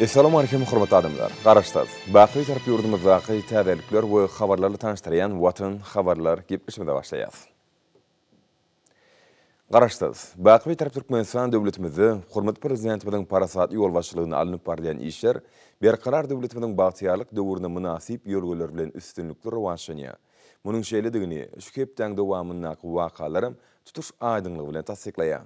Essalam Aleýkum hormatly adamlar. Garaşsaz, Baky tarap ýurdumyzdaky täzelikler we habarlarly tanyşdyrýan Watan habarlar gepleşimize başlaýas. Garaşsaz, Baky tarap Türkmenistan döwletimizde hormatly Prezidentimiziň parasatly ýolbaşçylygynda alnyp barylýan işler Berkarar döwletimiziň bagtyýarlyk döwrüne mynasyp ýörgüler bilen üstünlikli rowaçlanýar. Munuň şeýledigini şu hepdäň dowamyndaky wakalaram tutuş aýdyňlygy bilen tassyklaýar.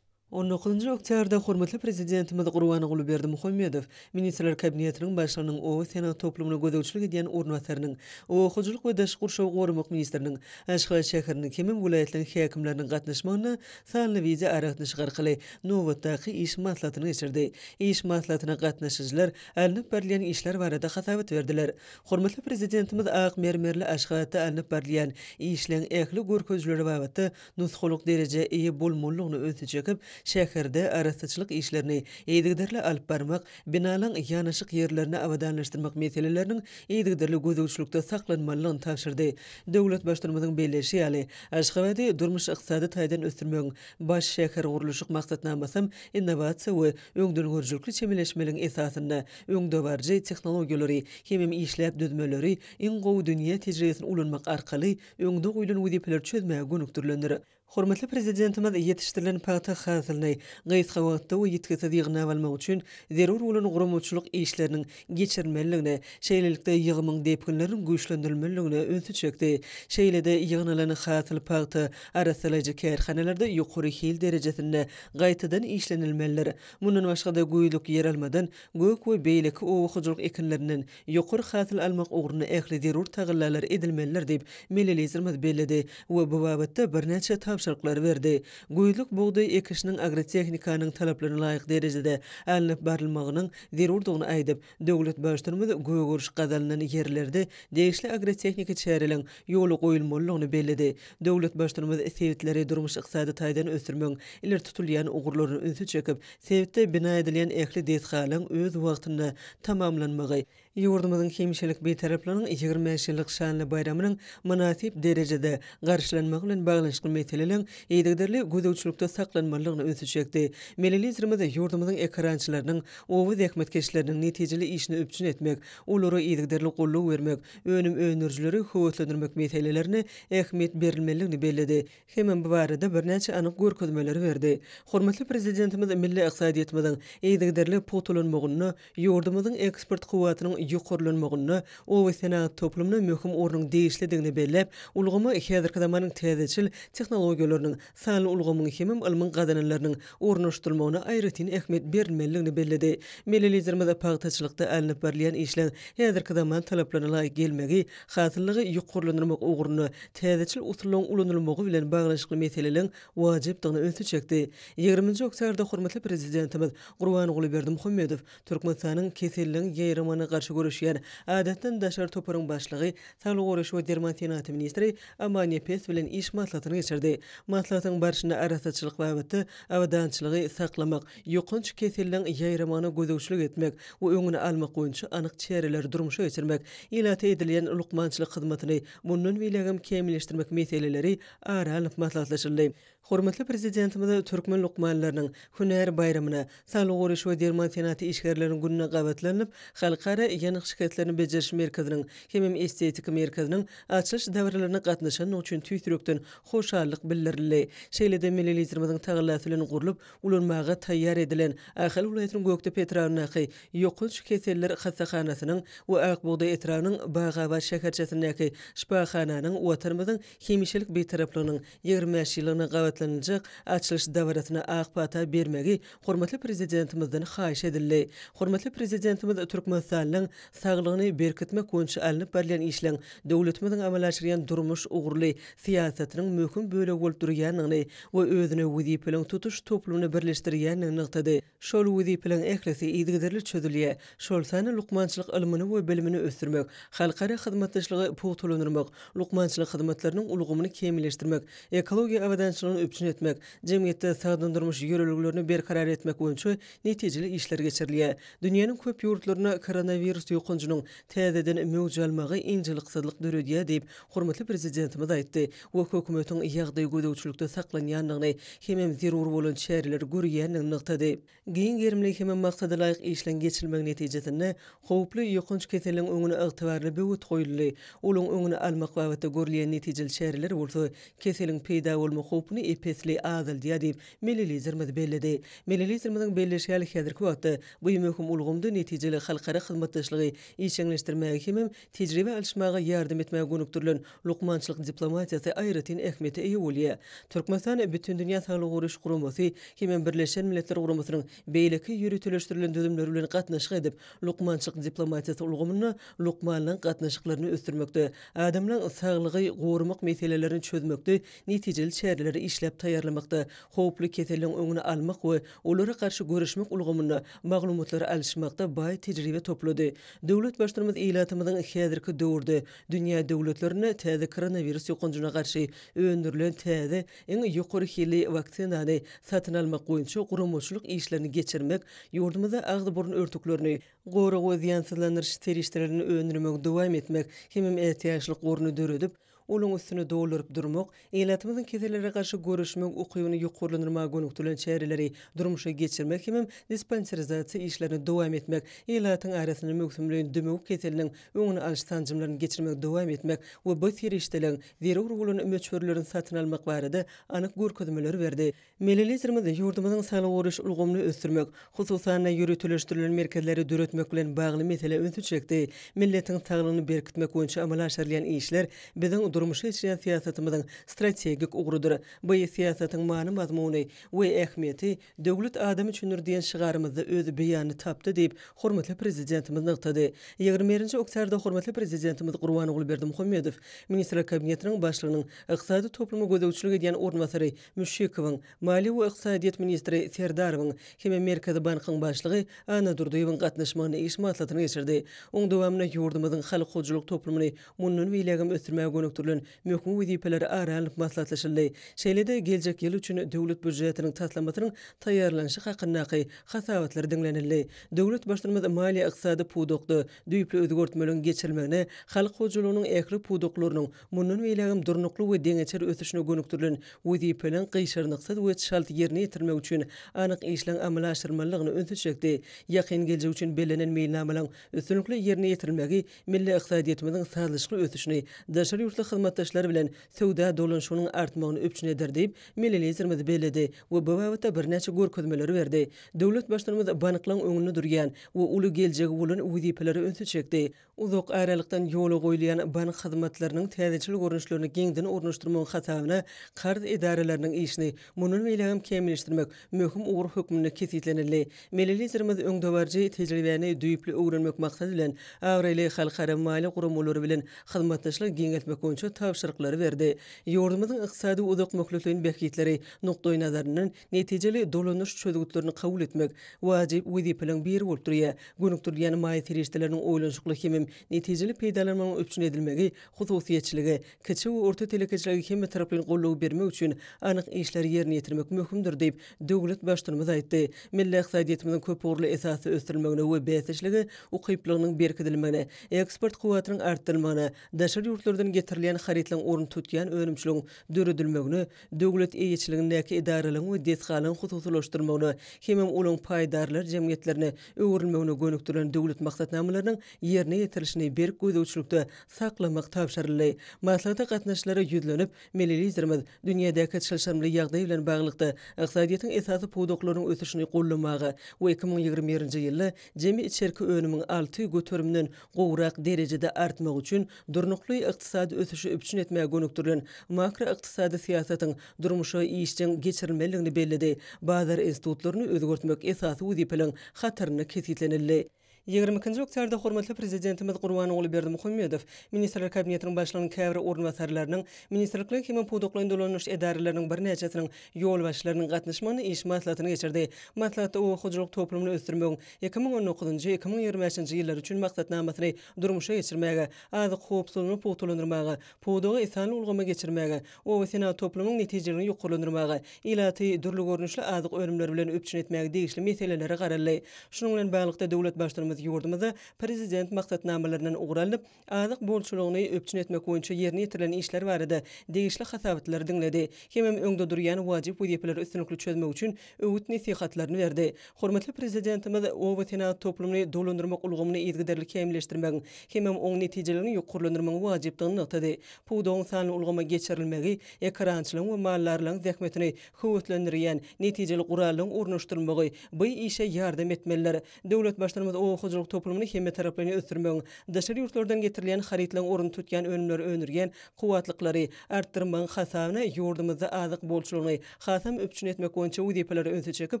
On dokuzynjy oktýabrda hormatly Prezidentimiz Gurbanguly Berdimuhamedow Ministrler Kabinetiniň Başlygynyň oba-senagat toplumyna gözegçilik edýän orunbasarynyň, oba hojalyk we daşky gurşawy goramak ministriniň, Aşgabat şäheriniň hemem welaýatlaryň häkimleriniň gatnaşmagynda sanly wideoaragatnaşyk arkaly nobatdaky iş maslahatyny geçirdi. Iş maslahatyna gatnaşyjylar alnyp barylýan işler barada hasabat berdiler. Hormatly Prezidentimiz ak mermerli Aşgabatda alnyp barylýan işleň ähli görkezijileri babatda nusgalyk derejä eýe bolmalydygyny ünsi çekip, şäherde arassaçylyk işlerini yzygiderli alyp barmak, binalaryň ýanaşyk ýerlerini abadanlaşdyrmak meseleleriniň yzygiderli gözegçilikde saklanmalydygyny tabşyrdy. Döwlet Baştutanymyzyň belleýşi ýaly, Aşgabady durmuş-ykdysady taýdan ösdürmegiň Baş şähergurluşyk maksatnamasam innowasiýa we öňdengörüjilikli çemeleşmeligiň esasynda öňdebaryjy tehnologiýalary hemem işläp düzmeleri, iň gowy dünýä tejribesini ulanmak arkaly öňde goýlan wezipeleri çözmäge gönükdirilendir. Hormatly Prezidentimiz ýetişdirilen pagta hasylyny gysga wagtda we ýitgisiz ýygnap almak üçin zerur bolan guramaçylyk işleriniň geçirilmelidigine, şeýlelikde, ýygymyň depginleriniň güýçlendirilmelidigine ünsi çekdi. Şeýle-de ýygnalan hasyl pagta arassalaýjy kärhanalarda ýokary hil derejesinde gaýtadan işlenilmelidir. Mundan başga-da, güýzlük ýeralmadan, gök we beýleki oba hojalyk ekinlerinden Ýokary hasyl almak ugrunda ähli zerur tagallalar edilmelidir diýip, milli Liderimiz belledi we bu babatda birnäçe tabşyryklary berdi. Güýzlük bugdaý ekişiniň agrotehnikanyň talaplaryna laýyk derejede alnyp barylmagynyň zerurdygyny aýdyp, döwlet Baştutanymyz gögeriş gazalynan ýerlerde degişli agrotehniki çäreleň ýola goýulmalydygyny belledi. Döwlet Baştutanymyz sebitleri durmuş-ykdysady taýdan ösdürmegiň ileri tutulýan ugurlaryna ünsi çekip, Sebitde bina edilýän ähli desgalaryň öz wagtynda tamamlanmagy, ýurdumyzyň hemşelik Bitaraplygynyň ýigrimi bäş ýyllyk şanly baýramynyň mynasyp derejede garşylanmagy bilen baglanyşykly meseleleriň yzygiderli gözegçilikde saklanmalydygyna ünsi çekdi. Milli Liderimiz ýurdumyzyň ekerançylarynyň, oba zähmetkeşleriniň netijeli işini üpjün etmek, olara yzygiderli goldaw bermek, önüm öndürijileri höweslendirmek meselelerine ähmiýet berilmelidigini belledi. hemem bu barada birnäçe anyk görkezmeleri berdi. Hormatly Prezidentimiz milli ykdysadyýetimiziň yzygiderli pugtalanmagynda, ýurdumyzyň eksport kuwwatynyň ýokarlanmagynda obasenagat toplumyna möhüm ornuň degişlidigini belläp, ulgama häzirki zamanyň täzeçil tehnologiýalarynyň, sanly ulgamyň hemem ylmyň gazananlarynyň ornaşdyrylmagyna aýratyn ähmiýet berilmelidigini belledi. Milli Liderimiz pagtaçylykda alnyp barylýan işleň häzirki zaman talaplaryna laýyk gelmegi, hasyllygy ýokarlandyrmak ugrunda täzeçil usullaryň ulanylmagy bilen baglanyşykly meseleleriň wajypdygyna ünsi çekdi. Ýigriminji oktýabrda hormatly Prezidentimiz Gurbanguly Berdimuhamedow Türkmenistanyň Keselligiň ýaýramagyna garşy göreşýän Adatdan daşary toparyň başlygy, Saglygy goraýyş we derman senagaty ministri Amanepes bilen iş maslahatyny geçirdi. Maslahatyň barşynda arassaçylyk babatda abadançylygy saklamak, ýokanç keseliň ýaýramagyna gözegçilik etmek we öňüni almak boýunça anyk çäreleri durmuşa geçirmek, ilata edilýän lukmançylyk hyzmatyny mundan beýlägem kämilleşdirmek meseleleri ara alnyp maslahatlaşyldy. Hormatly Prezidentimiz türkmen lukmanlarynyň hünär baýramyna, Saglygy goraýyş we derman senagaty işgärleriniň gününe gabatlanylyp, Halkara ýanyk şikeslerini bejeriş merkeziniň hemem Estetika merkeziniň açylyş dabaralaryna gatnaşandygy üçin tüýs ýürekden hoşallyk bildirildi. Şeýle-de milli Liderimiziň tagallasy bilen gurlup, ulanmaga taýýar edilen Ahal welaýatynyň Gökdepe etrabyndaky Ýokanç keseller hassahanasynyň we Ak bugdaý etrabynyň Bagabat şäherçesindäki şypahananyň Watanymyzyň hemişelik Bitaraplygynyň ýigrimi bäş ýyllygyna gabatlanyljak açylyş dabarasyna ak pata bermegi hormatly Prezidentimizden haýyş edildi. Hormatly Prezidentimiz Türkmenistanlyň saglygyny berkitmek boýunça alnyp barylýan işleň döwletimiziň amala aşyrýan durmuş ugurly syýasatynyň möhüm bölegi bolup durýandygyny we özüne wezipeleriň tutuş toplumyny birleşdirýändigini nygtady. Şol wezipeleriň ählisi yzygiderli çözülýär, şol sanda lukmançylyk ylmyny we bilimini ösdürmek, halkara hyzmatdaşlygy pugtalandyrmak, lukmançylyk hyzmatlarynyň ulgamyny kämilleşdirmek, ekologiýa abadançylygyny üpjün etmek, jemgyýetde sagdyn durmuş ýörelgelerini berkarar etmek boýunça netijeli işler geçirilýär. Dünýäniň köp ýurtlarynda koronawirus ýokanjynyň täzeden möwj almagy ynjalyksyzlyk döredýär diýip, hormatly Prezidentimiz aýtdy. we hökümetiň ýagdaýy gözegçilikde saklanýandygyny hemem zerur bolan çäreleri görýändigini nygtady. Giň gerimli hemem maksadalaýyk işleň geçirilmegi netijesinde howply ýokanç keseliň öňüne ygtybarly böwet goýuldy, olaň öňüni almak babatda görülýän netijeli çäreler bolsa keseliň peýda bolma howpuny ep-esli azaldýar diýip, milli Liderimiz belledi. Milli Liderimiziň belleşi ýaly, häzirki wagtda bu möhüm ulgamda netijeli halkara hyzmatdaşlygy işjeňleşdirmäge hemem Tejribe alyşmaga ýardam etmäge gönükdirilen lukmançylyk diplomatiýasy aýratyn ähmiýete eýe bolýar. Türkmenistan Bütindünýä Saglygy Goraýyş Guramasy hem Birleşen Milletler Guramasynyň beýleki ýöriteleşdirilen düzümleri bilen gatnaşyk edip, lukmançylyk diplomatiýasy ulgamynda lukmanlaryň gatnaşyklaryny ösdürmekde, adamlaryň saglygy goramak meselelerini çözmekde netijeli çäreleri işläp taýýarlamakda, howply keselleriň öňüni almak we olara garşy göreşmek ulgamynda maglumatlary alyşmakda baý tejribe toplady. Döwlet Baştutanymyz ilatymyzyň häzirki döwürde dünýä döwletlerine täze koronawirus ýokanjyna garşy öndürilen täze, iň ýokary hilli waksinany satyn almak boýunça guramaçylyk işlerini geçirmek, ýurdumyzda agzy-burun örtüklerini, gorag we zyýansyzlandyryş serişdelerini öndürmegi dowam etmek hemem ätiýaçlyk goruny döredip, Olaryň üstüni dolduryp durmak, ilatymyzyň kesellere garşy göreşmek ukybyny ýokarlandyrmaga gönükdirilen çäreleri durmuşa geçirmek hemem dispanserizasiýa işlerini dowam etmek, ilatyň arasynda möwsümleýin dümew keseliniň öňüni alyş sanjymlaryny geçirmegi dowam etmek we bu serişdeleriň zerur bolan möçberlerini satyn almak barada anyk görkezmeleri berdi. Milli Liderimiz ýurdumyzyň saglygy goraýyş ulgamyny ösdürmek, hususan-da, ýöriteleşdirilen merkezleri döretmek bilen bagly meselä ünsi çekdi, Milletiň saglygyny berkitmek boýunça amala aşyrylýan işler biziň durmuşa geçirýän syýasatymyzyň strategik ugrudyr. Bu syýasatyň many-mazmuny we ähmiýeti Döwlet adam üçindir diýen şygarymyzda öz beýanyny tapdy diýip, hormatly Prezidentimiz nygtady. Ýigrimi birinji oktýarda hormatly Prezidentimiz Gurbanguly Berdimuhamedow Ministrler Kabinetiniň Başlygynyň ykdysady topluma gözegçilik edýän orunbasary Müşşikowyň, Maliýe we ykdysadyýet ministri Serdarowyň hem-de Merkezi bankyň başlygy Anna Durdyýewiň gatnaşmagynda iş maslahatyny geçirdi. Onuň dowamynda ýurdumyzyň halk hojalyk toplumyny mundan beýlägem ösdürmäge gönükdirilen möhüm wezipeler ara alnyp maslahatlaşyldy. Şeýle-de geljek ýyl üçin Döwlet býujetiniň taslamasynyň taýýarlanyşy hakyndaky hasabatlar diňlenildi. Döwlet Baştutumymyz maliýe-ykdysady pudakda düýpli özgertmeleriň geçirilmegine, halk hojalygynyň ähli pudaklarynyň Mundan beýlägem durnukly we deňeçer ösüşine gönükdirilen wezipeleriň gyşarnyksyz we çalt ýerine ýetirilmegi üçin anyk işleň amala aşyrylmalydygyna ünsi çekdi. Ýakyn geljek üçin bellenen meýilnamalaryň üstünlikli ýerine ýetirilmegi milli ykdysadyýetimiziň sazlaşykly ösüşini, daşary ýurtly hyzmatdaşlar bilen söwda dolanyşygynyň artmagyny üpjün eder diýip, milli Liderimiz belledi we bu babatda birnäçe görkezmeleri berdi. Döwlet Baştutanymyz banklaryň öňünde durýan we uly geljegi bolan wezipelere ünsi çekdi. Uzak aralykdan ýola goýulýan bank hyzmatlarynyň täzeçil görnüşlerini giňden ornaşdyrmagyň hasabyna karz edaralarynyň işini mundan beýlägem kämilleşdirmek möhüm ugur hökmünde kesgitlenildi. Milli Liderimiz öňdebaryjy tejribäni düýpli öwrenmek maksady bilen, abraýly halkara maliýe guramalary bilen hyzmatdaşlygy giňeltmek boýunça tabşyryklary berdi. Ýurdumyzyň ykdysady uzakmöhletleýin bähbitleri nukdaýnazaryndan, Netijeli dolanyş çözgütlerini kabul etmek wajyp wezipeleriň biri bolup durýar. Gönükdirilýän maýa serişdeleriniň oýlanyşykly hemem netijeli peýdalanmagynyň üpjün edilmegi hususyýetçilige, kiçi we orta telekeçilige hemmetaraplaýyn goldaw bermek üçin anyk işleri ýerine ýetirmek möhümdir diýip, döwlet Baştutanymyz aýtdy. Milli ykdysadyýetimiziň köpugurly esasda ösdürilmegine we bäsdeşlige ukyplygynyň berkidilmegine, eksport kuwwatynyň artdyrylmagyna, daşary ýurtlardan getirilýän harytlaryň ornuny tutýan önümçiligiň döredilmegine, döwlet eýeçiligindäki edaralaryň we desgalaryň hususylaşdyrylmagyna hemem olaryň paýdarlar jemgyýetlerine öwrülmegine gönükdirilen döwlet maksatnamalarynyň ýerine ýetirilişini berk gözegçilikde saklamak tabşyryldy. Maslahata gatnaşyjylara ýüzlenip, milli Liderimiz dünýädäki çylşyrymly ýagdaý bilen baglylykda ykdysadyýetiň esasy pudaklarynyň ösüşini goldamaga we iki müň ýigrimi birinji ýylda jemi içerki önümiň alty göterimden gowrak derejede artmagy üçin durnukly ykdysady ösüşi üpjün etmäge gönükdirilen makroykdysady syýasatyň durmuşa işjeň geçirilmelidigini belledi, bazar institutlaryny özgertmek esasy wezipeleriň hatarynda kesgitlenildi. Ýigrimi ikinji oktýabrda hormatly Prezidentimiz Gurbanguly Berdimuhamedow Ministrler Kabinetiniň Başlygynyň käbir orunbasarlarynyň, ministrlikleýin hem-ä pudaklaýyn dolanyş edaralarynyň birnäçesiniň ýolbaşçylarynyň gatnaşmagynda iş maslahatyny geçirdi. Maslahatda oba hojalyk toplumyny ösdürmegiň Iki müň on dokuzynjy, iki müň ýigrimi bäşinji ýyllar üçin maksatnamasyny durmuşa geçirmäge, azyk howpsuzlygyny pugtalandyrmaga, pudagy sanly ulgama geçirmäge, obasenagat toplumynyň netijeligini ýokarlandyrmaga, ilaty dürli görnüşli azyk önümleri bilen üpjün etmäge degişli meselelere garaldy. Şunuň bilen baglylykda, döwlet Baştutanymyz ýurdumyzda Prezident maksatnamalaryndan ugur alnyp, azyk bolçulygyny üpjün etmek boýunça ýerine ýetirilen işler barada degişli hasabatlary diňledi, hemem öňde durýan wajyp wezipeleri üstünlikli çözmek üçin öwüt-nesihatlaryny berdi. Hormatly Prezidentimiz obasenagat toplumyny dolandyrmak ulgamyny yzygiderli kämilleşdirmegiň, hemem oň netijeligini ýokarlandyrmagyň wajypdygyny nygtady. Pudagyň sanly ulgama geçirilmegi, ekerançylaryň we maldarlaryň zähmetini höweslendirýän netijeli gurallaryň ornaşdyrylmagy bu işe ýardam etmelidir. Döwlet Baştutanymyz oba hojalyk toplumyny hemmetaraplaýyn ösdürmegiň, daşary ýurtlardan getirilýän harytlaryň ornuny tutýan önümleri öndürýän kuwwatlyklary artdyrmagyň hasabyna ýurdumyzda azyk bolçulygyny hasam üpjün etmek boýunça wezipeleri ünsi çekip,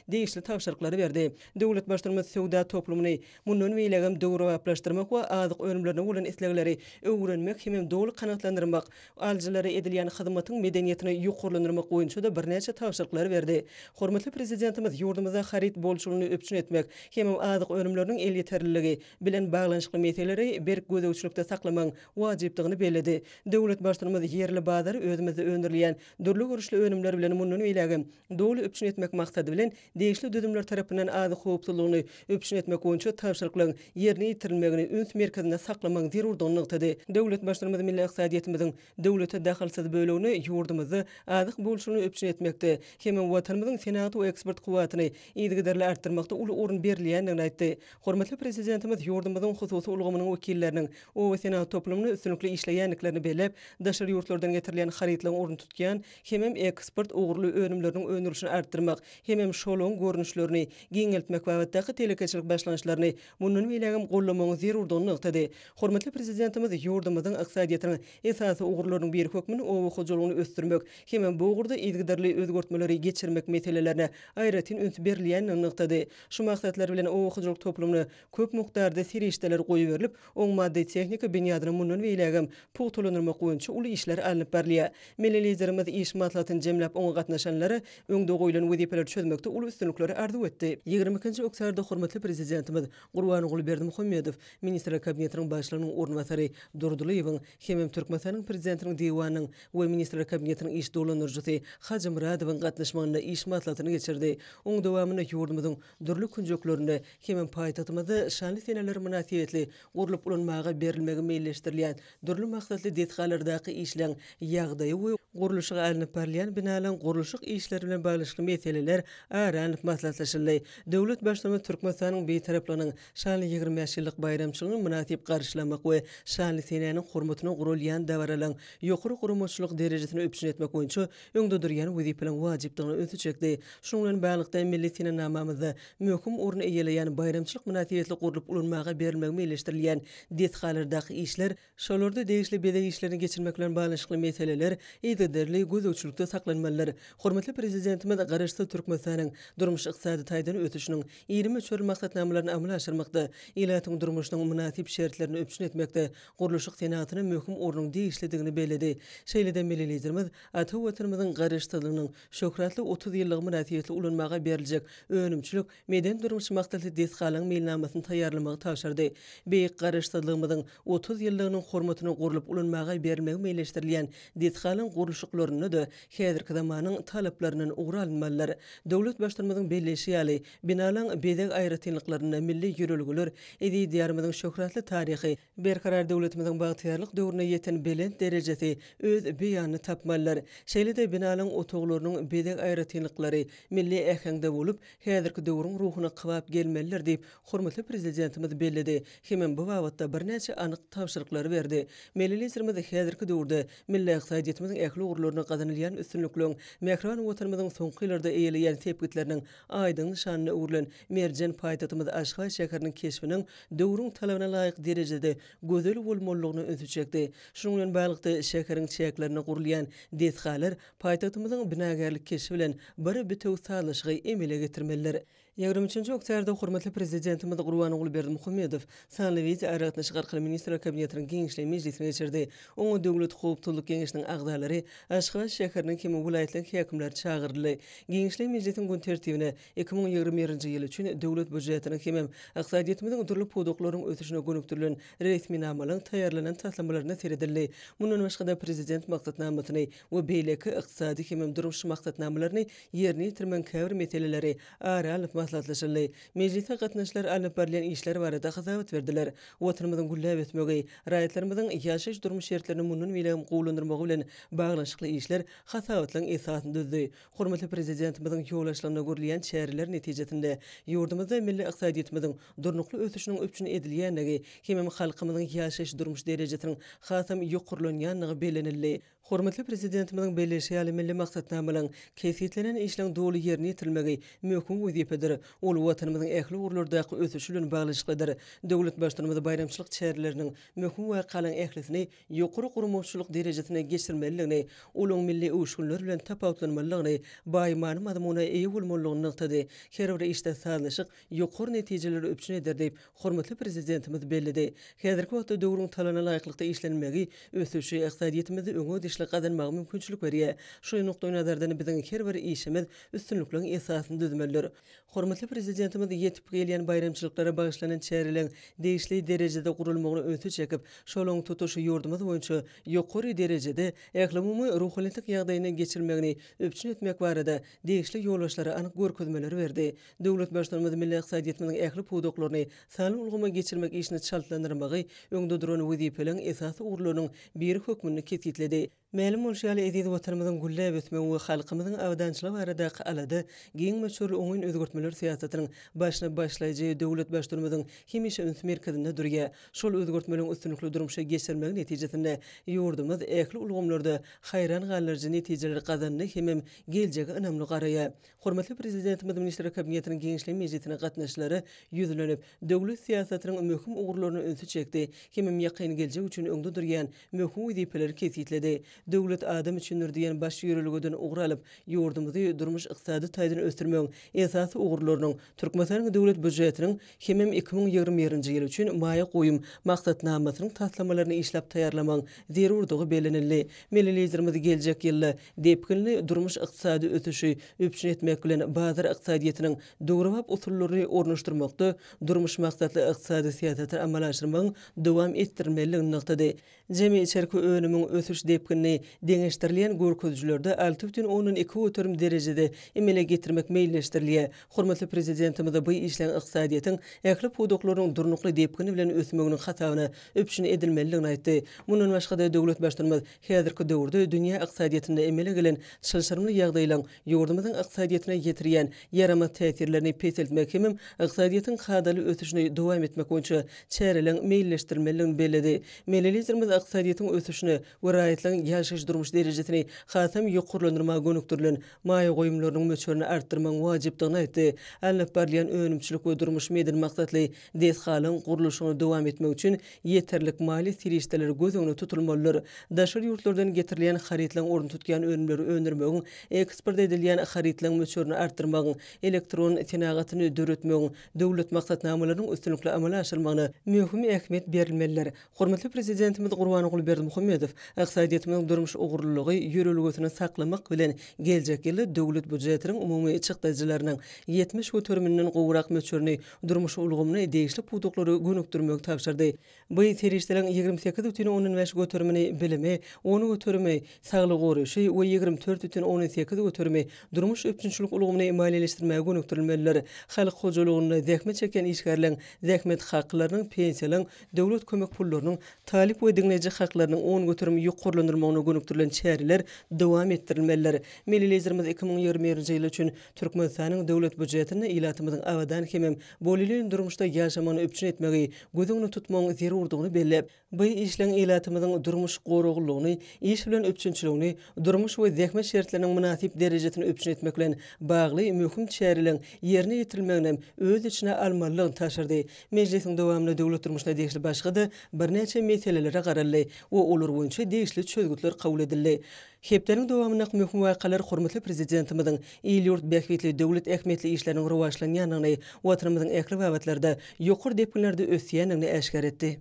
degişli tabşyryklary berdi. Döwlet Baştutanymyz söwda toplumyny mundan beýlägem döwrebaplaşdyrmak we azyk önümlerine bolan islegleri öwrenmek hemem doly kanagatlandyrmak, Alyjylara edilýän hyzmatyň medeniýetini ýokarlandyrmak boýunça-da birnäçe tabşyryklary berdi. Hormatly Prezidentimiz ýurdumyzda haryt bolçulygyny üpjün etmek, hemem azyk önümleriniň elýeterliligi bilen baglanyşykly meseleleri berk gözegçilikde saklamagyň wajypdygyny belledi. Döwlet Baştutanymyz ýerli bazary özümizde öndürilýän dürli görnüşli önümler bilen mundan beýlägem doly üpjün etmek maksady bilen, degişli düzümler tarapyndan azyk howpsuzlygyny üpjün etmek boýunça tabşyryklaryň ýerine ýetirilmegini üns merkezinde saklamagyň zerurdygyny nygtady. Döwlet Baştutanymyz milli ykdysadyýetimiziň döwlete dahylsyz bölegini ýurdumyzda azyk bolçulygyny üpjün etmekde hem-ä Watanymyzyň senagat we eksport kuwwatyny yzygiderli artdyrmakda uly orun berilýändigini aýtdy. Hormatly Prezidentimiz ýurdumyzyň hususy ulgamynyň wekilleriniň obasenagat toplumynda üstünlikli işleýändiklerini belläp, daşary ýurtlardan getirilýän harytlaryň ornuny tutýan hemem eksport ugurly önümleriniň öndürilişini artdyrmak, hemem şolaň görnüşlerini giňeltmek babatdaky telekeçilik başlangyçlaryny mundan beýlägem gollamagyň zerurdygyny nygtady. Hormatly Prezidentimiz ýurdumyzyň ykdysadyýetiniň esasy ugurlarynyň biri hökmünde oba hojalygyny ösdürmek, hemem bu ugurda yzygiderli özgertmeleri geçirmek meselelerine aýratyn üns berilýändigini nygtady. Şu maksatlar bilen oba hojalyk toplumyny köp mukdarda serişdeler goýberilip, oň maddy-tehniki binýadyny mundan beýlägem pugtalandyrmak boýunça uly işler alnyp barylýar. Milli Liderimiz iş maslahatyny jemläp, oňa gatnaşanlara öňde goýlan wezipeleri çözmekde uly üstünlikleri arzuw etdi. Ýigrimi ikinji oktýarda hormatly Prezidentimiz Gurbanguly Berdimuhamedow, Ministrler Kabinetiniň Başlygynyň orunbasary Durdylyýewiň hemem Türkmenistanyň Prezidentiniň Diwanynyň we Ministrler Kabinetiniň iş dolandyryjysy Hajymyradowyň gatnaşmagynda iş maslahatyny geçirdi. Oň dowamynda ýurdumyzyň dürli künjeklerinde Hemem paýtagtymyzda şanly seneler mynasybetli gurlup ulanmaga berilmegi meýilleşdirilýän dürli maksatly desgalardaky işleň ýagdaýy we gurluşygy alnyp barylýan binalaň gurluşyk işleri bilen baglyşykly meseleler ara alnyp maslahatlaşyldy. Döwlet Baştutanymyz Türkmenistanyň Bitaraplygynyň şanly ýigrimi bäş ýyllyk baýramçylygyny mynasyp garşylamak we şanly senäniň hormatyna guralýan dabaralaň ýokary guramaçylyk derejesini üpjün etmek boýunça öňde durýan wezipeleriň wajypdygyna ünsi çekdi. Şunuň bilen baglylykda, milli senenamamyzda möhüm orun eýeleýän baýramçylyk mynasybetli gurlup ulanmaga berilmegi meýilleşdirilýän desgalardaky işler, şolarda degişli bezeg işlerini geçirmek bilen baglanyşykly meseleler yzygiderli gözegçilikde saklanmalydyr. Hormatly Prezidentimiz Garaşsyz Türkmenistanyň durmuş-ykdysady taýdan ösüşiniň iri möçberli maksatnamalaryny amala aşyrmakda, ilatyň durmuşynyň mynasyp şertlerini üpjün etmekde gurluşyk senagatyna möhüm ornuň degişlidigini belledi. Şeýle-de Milli Liderimiz ata Watanymyzyň Garaşsyzlygynyň Şöhratly otuz ýyllygy mynasybetli ulanmaga beriljek önümçilik, medeni-durmuş maksatly desgalaryň meýilnamasyny taýýarlamagy tabşyrdy. Beýik Garaşsyzlygymyzyň otuz ýyllygynyň hormatyna gurlup ulanmaga berilmegi meýilleşdirilýän desgalaryň gurluşyklarynda-da häzirki zamanyň talaplaryndan ugur alynmalydyr. Döwlet Baştutanymyzyň belleýşi ýaly, binalaryň bezeg aýratynlyklarynda milli ýörelgeler, eziz Diýarymyzyň şöhratly taryhy, Berkarar döwletimiziň bagtyýarlyk döwrüne ýeten belent derejesi öz beýanyny tapmalydyr. Şeýle-de binalaryň otaglarynyň bezeg aýratynlyklary milli äheňde bolup, häzirki döwrüň ruhuna kybap gelmelidir diýip, hormatly Prezidentimiz belledi hemem bu babatda birnäçe anyk tabşyryklary berdi. Milli Liderimiz häzirki döwürde milli ykdysadyýetimiziň ähli ugurlarynda gazanylýan üstünlikleriň, mähriban Watanymyzyň soňky ýyllarda eýeleýän sepgitleriniň Aýdyň nyşanyna öwrülen merjen paýtagtymyz Aşgabat şäheriniň keşbiniň döwrüň talabyna laýyk derejede gözel bolmalydygyna ünsi çekdi. Şunuň bilen baglylykda, şäheriň çäklerinde gurulýan desgalar paýtagtymyzyň binagärlik keşbi bilen bir bitewi sazlaşygy emele getirmelidir. Ýigrimi üçünji oktýarda hormatly Prezidentimiz Gurbanguly Berdimuhamedow Sanly wideo aragatnaşyk arkaly Ministrler Kabinetiniň giňişleýin mejlisini geçirdi. Oňa Döwlet howpsuzlyk geňeşiniň agzalary, Aşgabat şäheriniň hem welaýatlaryň häkimleri çagyryldy. Giňişleýin mejlisiň gün tertibine iki müň ýigrimi birinji ýyl üçin Döwlet býujetiniň hemem ykdysadyýetimiziň dürli pudaklarynyň ösüşine gönükdirilen resminamalaryň taýýarlanan taslamalaryna seredildi. Mundan başga-da Prezident maksatnamasyny we beýleki ykdysady hemem durmuş maksatnamalaryny ýerine ýetirmegiň käbir meseleleri ara alnyp maslahatlaşyldy. Mejlise gatnaşylar alnyp barylýan işler barada hasabat berdiler. Watanymyzyň gülläp ösmegi, raýatlarymyzyň ýaşaýyş-durmuş şertlerini mundan beýlägem gowulandyrmagy bilen baglanyşykly işler hasabatlaryň esasyny düzdi. Hormatly Prezidentimiziň ýol başlygynda görülýän çäreler netijesinde ýurdumyzda milli ykdysadyýetimiziň durnukly ösüşiniň üpjün edilýändigi hemem halkymyzyň ýaşaýyş-durmuş derejesiniň hasam ýokarlanýandygy bellenildi. Hormatly Prezidentimiziň belleýşi ýaly, milli maksatnamalaryň, kesgitlenen işleriň doly ýerine ýetirilmegi möhüm wezipedir. Ol Watanymyzyň ähli ugurlardaky ösüşi bilen baglanyşyklydyr. Döwlet Baştutanymyz baýramçylyk çäreleriniň möhüm wakalaryň ählisini ýokary guramaçylyk derejesinde geçirmelidigini, olaryň milli öwüşginler bilen tapawutlanmalydygyny, baý many-mazmuna eýe bolmalydygyny nygtady. Her bir işde sazlaşyk ýokary netijeleri üpjün eder diýip, Hormatly Prezidentimiz belledi, Häzirki wagtda döwrüň talabyna laýyklykda işlenmegi ösüşi, ykdysadyýetimizi öňe dişli gazanmaga mümkinçilik berýär. Şu nukdaýnazardan biziň her bir işimiz üstünlikliň esasyny düzmelidir. Hormatly Prezidentimiz ýetip gelýän baýramçylyklara bagyşlanan çäreleriň degişli derejede guralmagyna ünsi çekip, şolaň tutuş ýurdumyz boýunça ýokary derejede ählumumy ruhubelentlik ýagdaýynda geçirilmegini üpjün etmek barada degişli ýolbaşçylara anyk görkezmeleri berdi. Döwlet Baştutanymyz milli ykdysadyýetimiziň ähli pudaklaryny sanly ulgama geçirmek işini çaltlandyrmagy öňde duran wezipeleriň esasy ugurlarynyň biri hökmünde kesgitledi. Mälim bolşy ýaly, eziz Watanymyzyň gülläp ösmegi we halkymyzyň abadançylygy baradaky alada giň möçberli oňyn özgertmeler syýasatynyň başyny başlaýjy döwlet Baştutanymyzyň hemişe üns merkezinde durýar. Şol özgertmeleriň üstünlikli durmuşa geçirilmegi netijesinde ýurdumyz ähli ulgamlarda haýran galdyryjy netijeleri gazandy hemem geljege ynamly garaýar. Hormatly Prezidentimiz Ministrler Kabinetiniň Giňişleýin mejlisine gatnaşyjylara ýüzlenip, döwlet syýasatynyň möhüm ugurlaryna ünsi çekdi, hemem ýakyn geljek üçin öňde durýan möhüm wezipeleri kesgitledi. Döwlet adam üçindir! diýen baş ýörelgeden ugur alyp, ýurdumyzy durmuş-ykdysady taýdan ösdürmegiň esasy ugurlarynyň, Türkmenistanyň Döwlet býujetiniň hemem iki müň ýigrimi birinji ýyl üçin maýa goýum maksatnamasynyň taslamalaryny işläp taýýarlamagyň zerurdygy bellenildi. Milli Liderimiz geljek ýylda depginli durmuş-ykdysady ösüşi üpjün etmek bilen bazar ykdysadyýetiniň döwrebap usullaryny ornaşdyrmakda durmuş maksatly ykdysady syýasaty amala aşyrmagyň dowam etdirilmelidigini nygtady. Jemi içerki önümiň ösüş depginini deňeşdirilýän görkezijilerde alty bütin ondan iki göterim derejede emele getirmek meýilleşdirilýär. Hormatly Prezidentimiz bu işleň ykdysadyýetiň ähli pudaklarynyň durnukly depgini bilen ösmeginiň hasabyna üpjün edilmelidigini aýtdy. Mundan başga-da, döwlet Baştutanymyz, Häzirki döwürde dünýä ykdysadyýetinde emele gelen çylşyrymly ýagdaýlaryň ýurdumyzyň ykdysadyýetine ýetirýän ýaramaz täsirlerini peseltmek hemem ykdysadyýetiň kadaly ösüşini dowam etmek boýunça çäreleriň meýilleşdirilmelidigini belledi. Milli Liderimiz ykdysadyýetiň ösüşine we raýatlaryň ýaşaýyş-durmuş derejesini hasam ýokarlandyrmaga gönükdirilen maýa goýumlarynyň möçberini artdyrmagyň wajypdygyny aýtdy, alnyp barylýan önümçilik we durmuş medeni maksatly Desgalyň gurluşygyny dowam etmek üçin ýeterlik maliýe serişdeleri göz öňünde tutulmalydyr. Daşary ýurtlardan getirilýän harytlaryň ornuny tutýan önümleri öndürmegiň, eksport edilýän harytlaryň möçberini artdyrmagyň, elektron senagatyny döretmegiň döwlet maksatnamalarynyň üstünlikli amala aşyrylmagyna möhüm ähmiýet berilmelidir. Hormatly Prezidentimiz Gurbanguly Berdimuhamedow ykdysadyýetimiziň durmuş ugurlylygy ýörelgesini saklamak bilen, geljek ýylda Döwlet býujetiniň umumy çykdajylarynyň ýetmiş göterimininden gowrak möçberini durmuş ulgamyny, degişli pudaklary gönükdirmegi tabşyrdy. Bu serişdeleriň ýigrimi sekiz bütin ondan bäş göterimi bilimi, on göterimi saglygy goraýşy we ýigrimi dört bütin ondan sekiz göterimi durmuş üpjünçilik ulgamyny maliýeleşdirmäge gönükdirilmelidir. Halk hojalygynda zähmet çekýän işgärleň zähmet haklarynyň, pensiýalaryň, döwlet kömek pullarynyň, talyp we diňleýji haklarynyň on göterim ýokarlandyrylmagyna gönükdirilen çäreler dowam etdirilmelidir. Milli Liderimiz iki müň ýigrimi birinji ýyl üçin Türkmenistanyň Döwlet býujetinde ilatymyzyň abadan hemem bolelin durmuşda ýaşamagyny üpjün etmegi göz öňünde tutmagyň zerurdygyny belläp, bu işleň ilatymyzyň durmuş goraglylygyny, iş bilen üpjünçiligini, durmuş we zähmet şertleriniň mynasyp derejesini üpjün etmek bilen bagly möhüm çäreleriň ýerine ýetirilmeginem öz içine almalydygyny tabşyrdy. Mejlisiň dowamynda döwlet durmuşyna degişli başga-da birnäçe meselelere garaldy we olar boýunça degişli çözgütler kabul edildi. Hepdäniň dowamyndaky möhüm wakalar hormatly Prezidentimiziň il-ýurt bähbitli, döwlet ähmiýetli işleriniň rowaçlanýandygyny, Watanymyzyň ähli babatlarda ýokary depginlerde ösýändigini äşgär etdi.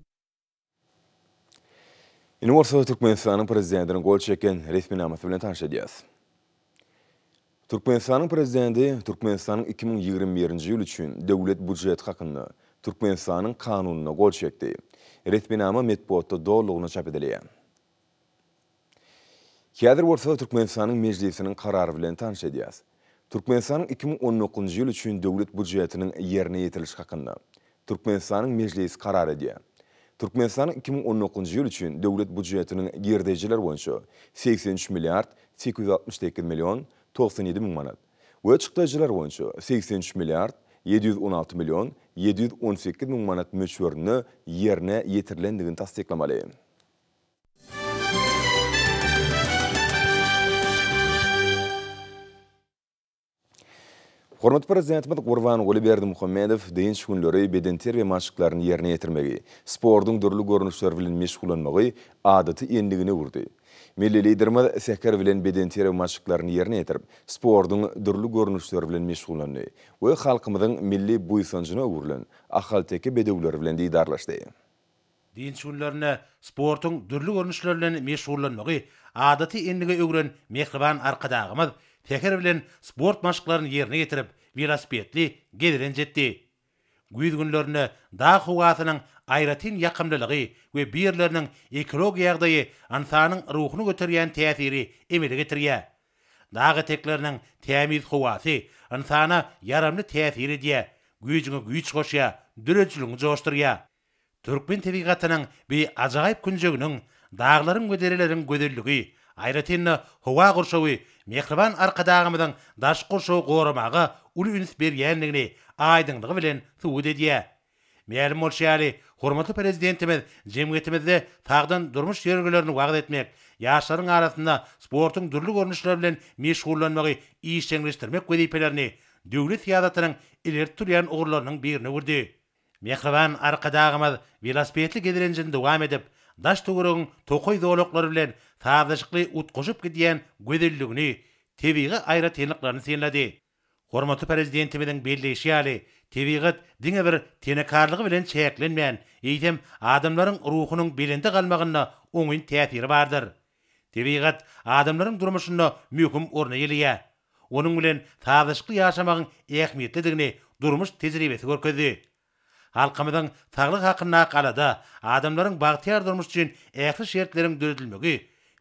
Indi bolsa Türkmenistanyň Prezidentiniň gol çeken resminamasy bilen tanyş edýäris. Türkmenistanyň Prezidenti Türkmenistanyň iki müň ýigrimi birinji ýyl üçin Döwlet býujeti hakynda Türkmenistanyň Kanunyna gol çekdi. Resminama metbugatda dolulygyna çap edilýär. Häzir bolsa Türkmenistanyň Mejlisiniň karary bilen tanyş edýäs. Türkmenistanyň iki müň on dokuzynjy ýyl üçin Döwlet Býujetiniň ýerine ýetiriliş hakynda. Türkmenistanyň Mejlisi karar edýär. Türkmenistanyň iki müň on dokuzynjy ýyl üçin Döwlet býujetiniň girdeýjiler boýunça segsen üç milliard sekiz ýüz altmyş sekiz million togsan ýedi müň manat we çykdajylar boýunça segsen üç milliard ýedi ýüz on alty million ýedi ýüz on sekiz müň manat möçberinde ýerine ýetirilendigini tassyklamaly. Hormatly Prezidentimiz Gurbanguly Berdimuhamedow dynç günleri bedenterbiýe maşklaryny ýerine ýetirmegi, sportuň dürli görnüşleri bilen meşgullanmagy adaty endigine öwürdi. Milli Liderimiz säher bilen bedenterbiýe maşklaryny ýerine ýetirip, sportuň dürli görnüşleri bilen meşgullandy we halkymyzyň milli buýsanjyna öwrülen ahalteke bedewleri bilen didarlaşdy. Dynç günlerinde sportuň dürli görnüşleri bilen meşgullanmagy adaty endigi öwren mähriban Arkadagymyz säher bilen sport maşklaryny ýerine ýetirip, welosipedli gezelenç etdi. Güýz günlerinde dag howasynyň aýratyn ýakymlylygy we bu ýerleriniň ekologiýa ýagdaýy ynsanyň ruhuny göterýän täsiri emele getirýär. Dag etekleriniň tämiz howasy ynsana ýaramly täsir edýär, güýjüňe güýç goşýar, döredijiligiňi joşdurýar. Türkmen tebigatynyň bi ajaýyp künjeginiň, daglaryň we dereleriň gözelligi, aýratyn-da, howa gurşawy mähriban Arkadagymyzyň daşky gurşawy goramaga uly üns berýändigini aýdyňlygy bilen subut edýär. Mälim bolşy ýaly, hormatly Prezidentimiz jemgyýetimizde sagdyn durmuş ýörelgelerini wagyz etmek, ýaşlaryň arasynda sportuň dürli görnüşleri bilen meşgullanmagy işjeňleşdirmek wezipelerini döwlet syýasatynyň ileri tutulýan ugurlarynyň birine öwürdi. Mähriban Arkadagymyz welosipedli gezelenjini dowam edip, daş-töweregiň tokaý zolaklary bilen sazlaşykly utgaşyp gidýän gözelligini, tebigy aýratynlyklaryny synlady. Hormatly Prezidentimiziň belleýşi ýaly, tebigat diňe bir tenekarlygy bilen çäklenmän, eýsem, adamlaryň ruhunyň belende galmagynda oňyn täsiri bardyr. Tebigat adamlaryň durmuşynda möhüm orun eýeleýär. Onuň bilen sazlaşykly ýaşamagyň ähmiýetlidigini durmuş tejribesi görkezdi. Halkymyzyň saglyk hakyndaky alada, adamlaryň bagtyýar durmuş üçin ähli şertleriň döredilmegi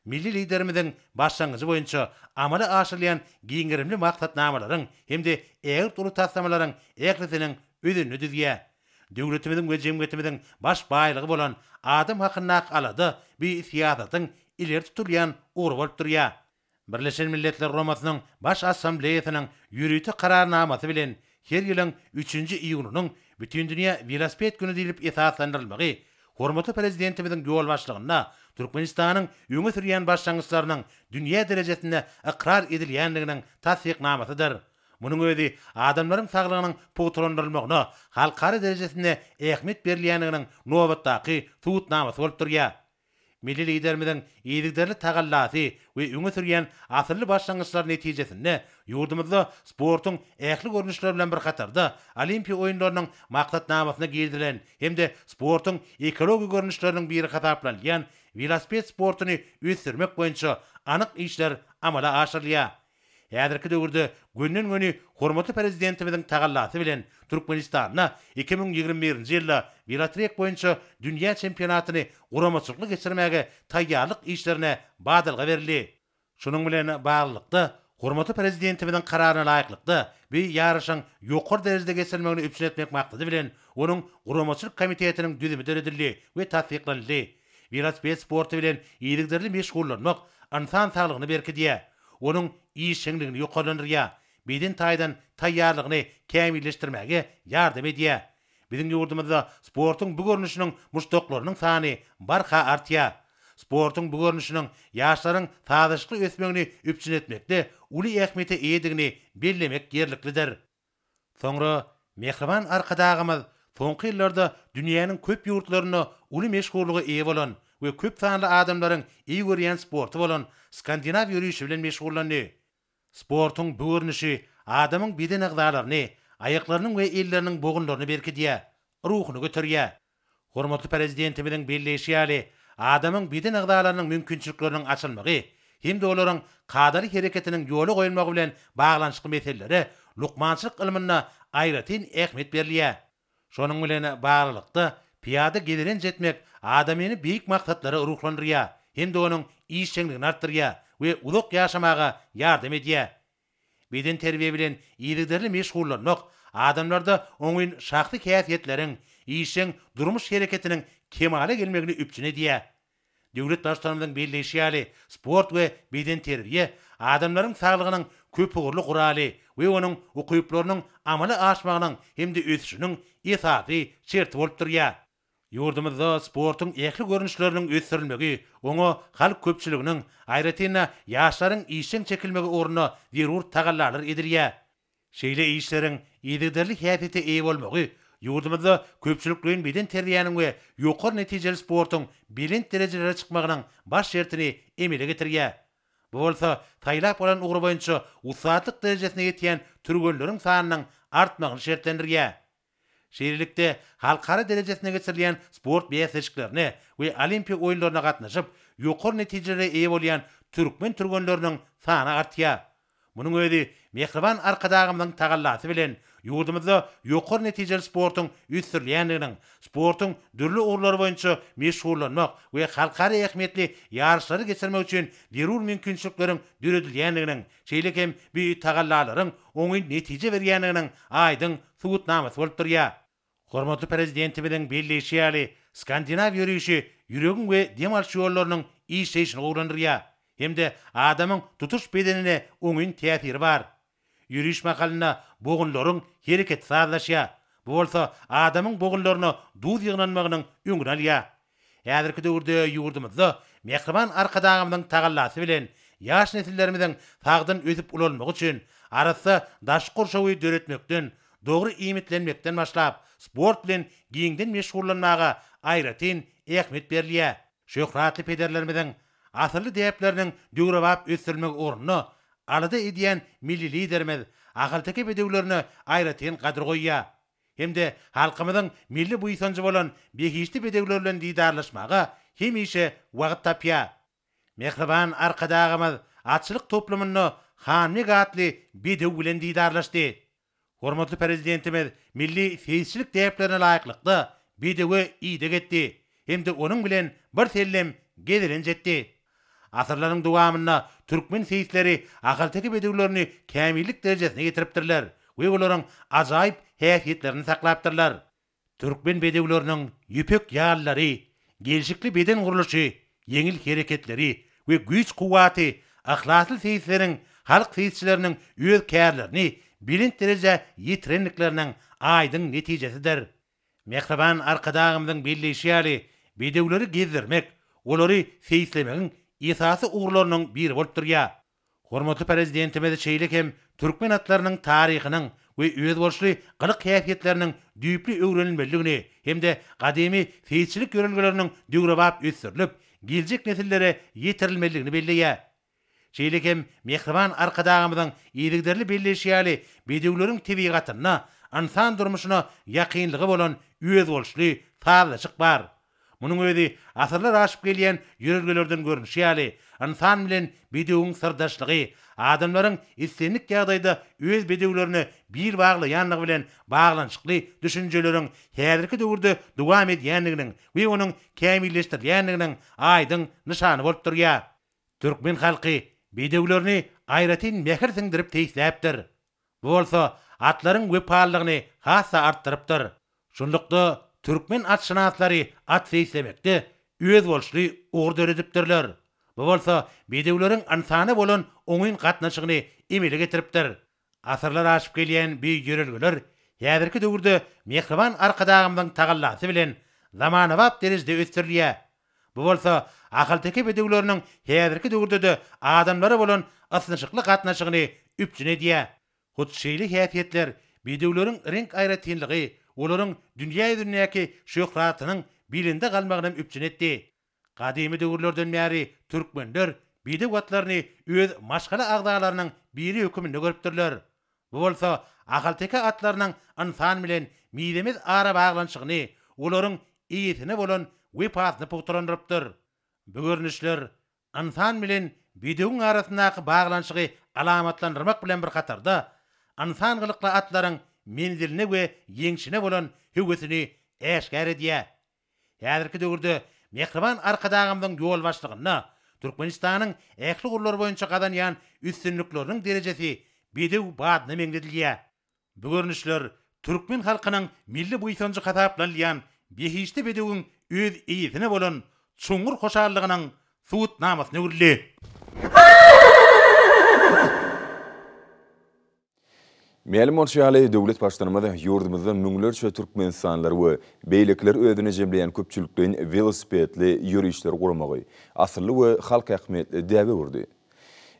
Milli Liderimiziň başlangyjy boýunça amala aşyrylýan giň gerimli maksatnamalaryň hem-de ägirt uly taslamalaryň ählisiniň özenini düzýär. Döwletimiziň we jemgyýetimiziň baş baýlygy bolan adam hakyndaky alada bu syýasatyň ileri tutulýan ugry bolup durýar. Birleşen Milletler Guramasynyň Baş Assambleýasynyň ýörite kararnamasy bilen her ýylyň üçünji iýunynyň Bütindünýä welosiped güni diýlip esaslandyrylmagy hormatly Prezidentimiziň ýolbaşçylygynda Türkmenistanyň öňe sürýän başlangyçlarynyň dünýä derejesinde ykrar edilýändiginiň tassyknamasydyr. Munuň özi adamlaryň saglygynyň pugtalandyrylmagyna halkara derejesinde ähmiýet berilýändiginiň nobatdaky subutnamasy bolup durýar. Milli Liderimiziň yzygiderli tagallasy we öňe sürýän asylly başlangyçlary netijesinde ýurdumyzda sportuň ähli görnüşleri bilen bir hatarda Olimpiýa oýunlarynyň maksatnamasyna girizilen hem-de sportuň ekologik görnüşleriniň biri hasaplanylýan welosiped sportuny ösdürmek boýunça anyk işler amala aşyrylýar. Häzirki döwürde gönden-göni hormatly Prezidentimiziň tagallasy bilen Türkmenistanda iki müň ýigrimi birinji ýylda welotrek boýunça dünýä çempionatyny guramaçylykly geçirmäge taýýarlyk işlerine badalga berildi. Şunuň bilen baglylykda, hormatly Prezidentimiziň Kararyna laýyklykda, bu ýaryşyň ýokary derejede geçirilmegini üpjün etmek maksady bilen, onuň Guramaçylyk komitetiniň düzümi döredildi we tassyklanyldy. Welosiped sporty bilen yzygiderli meşgullanmak ynsan saglygyny berkidýär, onuň işjeňligini ýokarlandyrýar, beden taýdan taýýarlygyny kämilleşdirmäge ýardam edýär. Biziň ýurdumyzda sportuň bu görnüşiniň muşdaklarynyň sany barha artýar. Sportuň bu görnüşiniň ýaşlaryň sazlaşykly ösmegini üpjün etmekde uly ähmiýete eýedigini bellemek ýerliklidir. Soňra Mähriban Arkadagymyz soňky ýyllarda dünýäniň köp ýurtlarynda uly meşhurlyga eýe bolan we köp sanly adamlaryň eý görýän sporty bolan skandinaw ýörişi bilen meşgullandy. Sportuň bu görnüşi adamyň beden agzalaryny, aýaklarynyň we elleriniň bogunlaryny berkidýär, ruhuny göterýär. Hormatly Prezidentimiziň belleýşi ýaly, adamyň beden agzalarynyň mümkinçilikleriniň açylmagy hem-de olaryň kadaly hereketiniň ýola goýulmagy bilen baglanyşykly meselelere lukmançylyk ylmynda aýratyn ähmiýet berilýär. Şonuň bilen baglylykda, pyýada gezelenç etmek adamyny beýik maksatlara ruhlandyrýar hem-de onuň işjeňligini artdyrýar we uzak ýaşamaga ýardam edýär. Bedenterbiýe bilen yzygiderli meşgullanmak adamlarda oňyn şahsy häsiýetleriň, işjeň durmuş hereketiniň kemala gelmegini üpjün edýär. Döwlet Baştutanymyzyň belleýşi ýaly, sport we bedenterbiýe adamlaryň saglygynyň köpugurly guraly we onuň ukyplarynyň amala aşmagynyň hem-de ösüşiniň esasy şerti bolup durýar. Ýurdumyzda sportuň ähli görnüşleriniň ösdürilmegi, oňa halk köpçüliginiň, aýratyn-da, ýaşlaryň işjeň çekilmegi ugrunda zerur tagallalar edilýär. Şeýle işleriň yzygiderli häsiýete eýe bolmagy ýurdumyzda köpçülikleýin bedenterbiýäniň we ýokary netijeli sportuň belent derejelere çykmagynyň baş şertini emele getirýär. Bu bolsa saýlap alan ugry boýunça ussatlyk derejesine ýetýän türgenleriň sanynyň artmagyny şertlendirýär. Şeýlelikde, halkara derejesinde geçirilýän sport bäsleşiklerine we Olimpiýa oýunlaryna gatnaşyp, ýokary netijelere eýe bolýan türkmen türgenleriniň sany artýar. Munuň özi mähriban Arkadagymyzyň tagallasy bilen ýurdumyzda ýokary netijeli sportuň ösdürilýändiginiň, sportuň dürli ugurlary boýunça meşgullanmak we halkara ähmiýetli ýaryşlary geçirmek üçin zerur mümkinçilikleriň döredilýändiginiň şeýle hem bu tagallalaryň oňyn netije berýändiginiň aýdyň subutnamasy bolup durýar. Hormatly Prezidentimiziň belleýşi ýaly, skandinaw ýörişi ýüregiň we dem alyş ýollarynyň işleýşini gowulandyrýar hem-de adamyň tutuş bedenine oňyn täsiri bar. Ýöriş mahalynda bogunlaryň hereketi sazlaşýar, bu bolsa adamyň bogunlaryna duz ýygnanmagynyň öňüni alýar, Häzirki döwürde ýurdumyzda mähriban Arkadagymyzyň tagallasy bilen ýaş nesillerimiziň sagdyn ösüp-ulalmagy üçin arassa daşky gurşawy döretmekden, dogry iýmitlenmekden başlap, sport bilen giňden meşgullanmaga aýratyn ähmiýet berilýär. Şöhratly pederlerimiziň asylly däpleriniň döwrebap ösdürilmegi ugrunda alada edýän milli Liderimiz ahalteke bedewlerine aýratyn gadyr goýýar. hem-de halkymyzyň milli buýsanjy bolan behişdi bedewler bilen didarlaşmaga hemişe wagt tapýar. Mähriban Arkadagymyz atçylyk toplumynda Hanbeg atly bedew bilen didarlaşdy. Hormatly Prezidentimiz milli seýisçilik däplerine laýyklykda bedewe ideg etdi hem-de onuň bilen birsellem gezelenç etdi. Asyrlaryň dowamynda türkmen seýisleri ahalteke bedewlerini kämillik derejesine getiripdirler we olaryň ajaýyp häsiýetlerini saklapdyrlar. Türkmen bedewleriniň ýüpek ýallary, gelşikli beden gurluşy, ýeňil hereketleri we güýç-kuwwaty yhlasly seýisleriň halk seýisçileriniň öz kärlerini belent derejä ýetirendikleriniň aýdyň netijesidir. Mähriban Arkadagymyzyň belleýşi ýaly, bedewleri gezdirmek, olary seýislemegiň esasy ugurlarynyň biri bolup durýar. Hormatly Prezidentimiz şeýle hem türkmen atlarynyň taryhynyň we özboluşly gylyk-häsiýetleriniň düýpli öwrenilmelidigini hem-de gadymy seýisçilik ýörelgeleriniň döwrebap ösdürilip, geljek nesillere ýetirilmelidigini belleýär. Şeýle hem mähriban Arkadagymyzyň yzygiderli belleýşi ýaly, bedewleriň tebigatyna, ynsan durmuşyna ýakynlygy bolan özboluşly sazlaşyk bar. Munuň özi asyrlar aşyp gelýän ýörelgelerden görnüşi ýaly, ynsan bilen bedewiň syrdaşlygy, adamlaryň islendik ýagdaýda öz bedewlerine bil baglaýanlygy bilen baglanyşykly düşünjeleriň häzirki döwürde dowam edýändiginiň we onuň kämilleşdirilýändiginiň aýdyň nyşany bolup durýar. Türkmen halky bedewlerini aýratyn mähir siňdirip teýisläpdir. Bu bolsa atlaryň wepalylygyny has-da artdyrypdyr. Şunlukda, türkmen atşynaslary at seýislemekde özboluşly ugur döredipdirler. Bu bolsa bedewleriň ynsana bolan oňyn gatnaşygyny emele getiripdir. Asyrlar aşyp gelýän bu ýörelgeler häzirki döwürde mähriban Arkadagymyzyň tagallasy bilen zamanabap derejede ösdürilýär. Bu bolsa ahalteke bedewleriniň häzirki döwürde-de adamlara bolan ysnyşykly gatnaşygyny üpjün edýär. Hut şeýle häsiýetler, bedewleriň reňk aýratynlygy olaryň dünýä ýüzündäki şöhratynyň belende galmagyny hem üpjün etdi. Gadymy döwürlerden bäri türkmenler bidek otlaryny öz maşgala agzalarynyň biri höküminde görüpdirler. Bu bolsa ahalteke atlarynyň ynsan bilen mizemez arabaglanyşygyny, olaryň eýesine bolan wepasyny pugtalandyrypdyr. Bu görnüşler ynsan bilen bidegiň arasyndaky baglanyşygy alamatlandyrmak bilen bir hatarda, ynsan gylykly atlaryň menziline we ýeňşine bolan höwesini äşgär edýär. Häzirki döwürde mähriban Arkadagymyzyň ýolbaşçylygynda Türkmenistanyň ähli ugurlar boýunça gazanýan üstünlikleriniň derejesi bedew badyna meňzedilýär. Bu görnüşler türkmen halkynyň milli buýsanjy hasaplanylýan behişdi bedewiň öz eýesine bolan çuňňur hoşallygynyň subutnamasyna öwrüldi. Mälim bolşy ýaly, döwlet Baştutanymyz ýurdumyzda müňlerçe türkmenistanlylar we beýlekileri özüne jemleýän köpçülikleýin welosipedli ýörişleri guramagy asylly we halk ähmiýetli däbe öwürdi.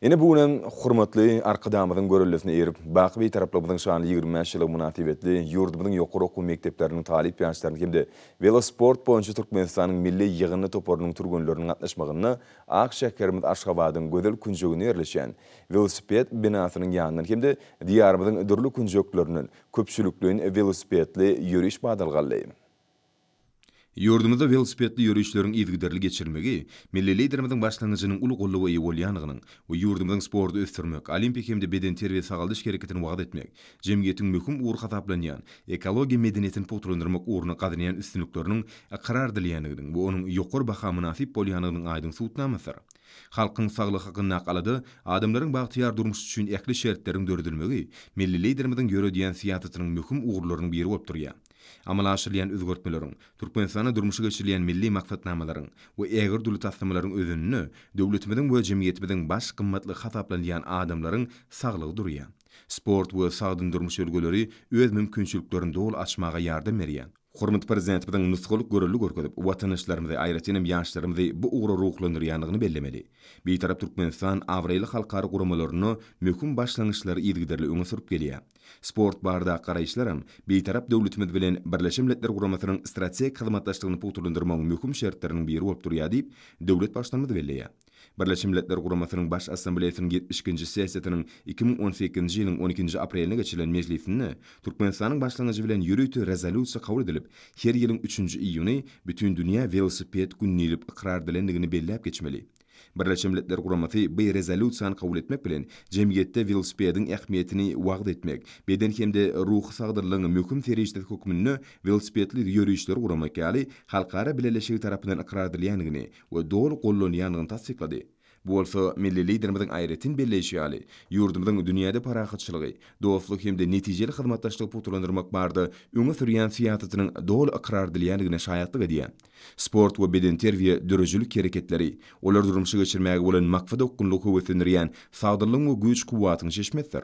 Ine, bu gün hem hormatly Arkadagymyzyň görellesine eýerip, baky Bitaraplygybyzyň şanly ýigrimi bäş ýyllygy mynasybetli ýurdumyzyň ýokary okuw mekdepleriniň talyp ýaşlarynyň hem-de welosport boýunça Türkmenistanyň milli ýygyndy toparynyň türgenleriniň gatnaşmagynda ak şäherimiz Aşgabadyň gözel künjeginde ýerleşýän Welosiped binasynyň ýanyndan hem-de Diýarymyzyň dürli künjeklerinden köpçülikleýin welosipedli ýöriş badalga aldy. Ýurdumyzda welosipedli ýörişleriň yzygiderli geçirilmegi Milli Liderimiziň başlangyjynyň uly goldawa eýe bolýandygynyň we ýurdumyzyň sporty ösdürmek, olimpik hem-de bedenterbiýe-sagaldyş hereketini wagyz etmek, jemgyýetiň möhüm ugry hasaplanýan ekologiýa medeniýetini pugtalandyrmak ugrunda gazanýan üstünlikleriniň ykrar edilýändiginiň we onuň ýokary baha mynasyp bolýandygynyň aýdyň subutnamasydyr. Halkyň saglygy hakyndaky alada, adamlaryň bagtyýar durmuşy üçin ähli şertleriň döredilmegi milli Liderimiziň ýöredýän syýasatynyň möhüm ugurlarynyň biri bolup durýar. Amala aşyrylýan özgertmeleriň, Türkmenistanda durmuşa geçirilýän milli maksatnamalaryň we ägirt uly taslamalaryň özeninde döwletimiziň we jemgyýetimiziň baş gymmatlygy hasaplanylýan adamlaryň saglygy durýar. Sport we sagdyn durmuş ülgeleri öz mümkinçiliklerini doly açmaga ýardam berýär. Hormatly Prezidentimiziň nusgalyk görelde görkezip, watandaşlarymyzy, aýratyn hem ýaşlarymyzy bu ugra ruhlandyrýandygyny bellemeli. Bitarap Türkmenistan abraýly halkara guramalarynda möhüm başlangyçlary yzygiderli öňe sürüp gelýär. Sport baradaky garaýyşlaram Bitarap döwletimiz bilen Birleşen Milletler Guramasynyň strategik hyzmatdaşlygyny pugtalandyrmagyň möhüm şertleriniň biri bolup durýar diýip, döwlet Baştutanymyz belleýär. Birleşen Milletler Guramasynyň Baş Assambleýasynyň ýetmiş ikinji sessiýasynyň iki müň on sekizinji ýylyň on ikinji aprelinde geçirilen mejlisinde Türkmenistanyň başlangyjy bilen ýörite rezolýusiýa kabul edilip, her ýylyň üçünji iýuny Bütindünýä welosiped güni diýlip ykrar edilendigini belläp geçmeli. Birleşen Milletler Guramasy bu rezolýusiýany kabul etmek bilen, jemgyýetde welosipediň ähmiýetini wagyz etmek, beden hem-de ruhy sagdynlygyň möhüm serişdesi hökmünde welosipedli ýörişleri guramak ýaly halkara bileleşigi tarapyndan ykrar edilýändigini we doly gollanýandygyny tassyklady. Bu bolsa milli Liderimiziň aýratyn belleýşi ýaly, ýurdumyzyň dünýäde parahatçylygy, dostluk hem-de netijeli hyzmatdaşlygy pugtalandyrmak barada öňe sürýän syýasatynyň doly ykrar edilýändigine şaýatlyk edýär. Sport we bedenterbiýe döredijilik hereketleri, olary durmuşa geçirmäge bolan maksadaokgunlygy höweslendirýän sagdynlygyň we güýç-kuwwatyň çeşmesidir.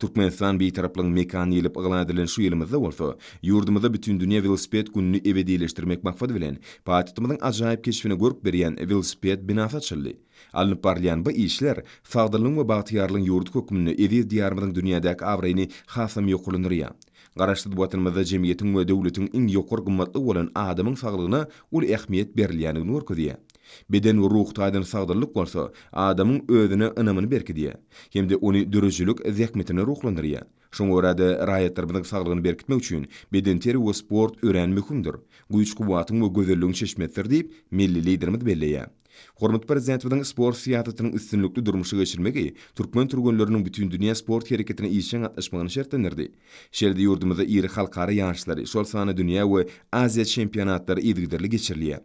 Türkmenistan Bitaraplygyň mekany diýlip yglan edilen şu ýylymyzda bolsa, ýurdumyzda Bütindünýä welosiped gününi ebedileşdirmek maksady bilen, paýtagtymyzyň ajaýyp keşbine görk berýän welosiped binasy açyldy. Alnyp barylýan bu işler sagdynlygyň we bagtyýarlygyň ýurdy hökmünde eziz Diýarymyzyň dünýädäki abraýyny hasam ýokarlandyrýar. Garaşsyz Watanymyzda jemgyýetiň we döwletiň iň ýokary gymmatlygy bolan adamyň saglygyna uly ähmiýet berilýändigini görkezýär. Beden we ruh taýdan sagdynlyk bolsa, adamyň özüne ynamyny berkidýär hem-de ony döredijilik zähmetine ruhlandyrýar. Şoňa görä-de, raýatlarymyzyň saglygyny berkitmek üçin bedenterbiýe we sport örän möhümdir, güýç-kuwwatyň we gözelligiň çeşmesidir diýip, milli Liderimiz belleýär. Hormatly Prezidentimiziň sport syýasatynyň üstünlikli durmuşa geçirilmegi türkmen türgenleriniň bütindünýä sport hereketine işjeň gatnaşmagyny şertlendirdi. Şeýle-de ýurdumyzda iri halkara ýaryşlary, şol sanda dünýä we Aziýa çempionatlary yzygiderli geçirilýär.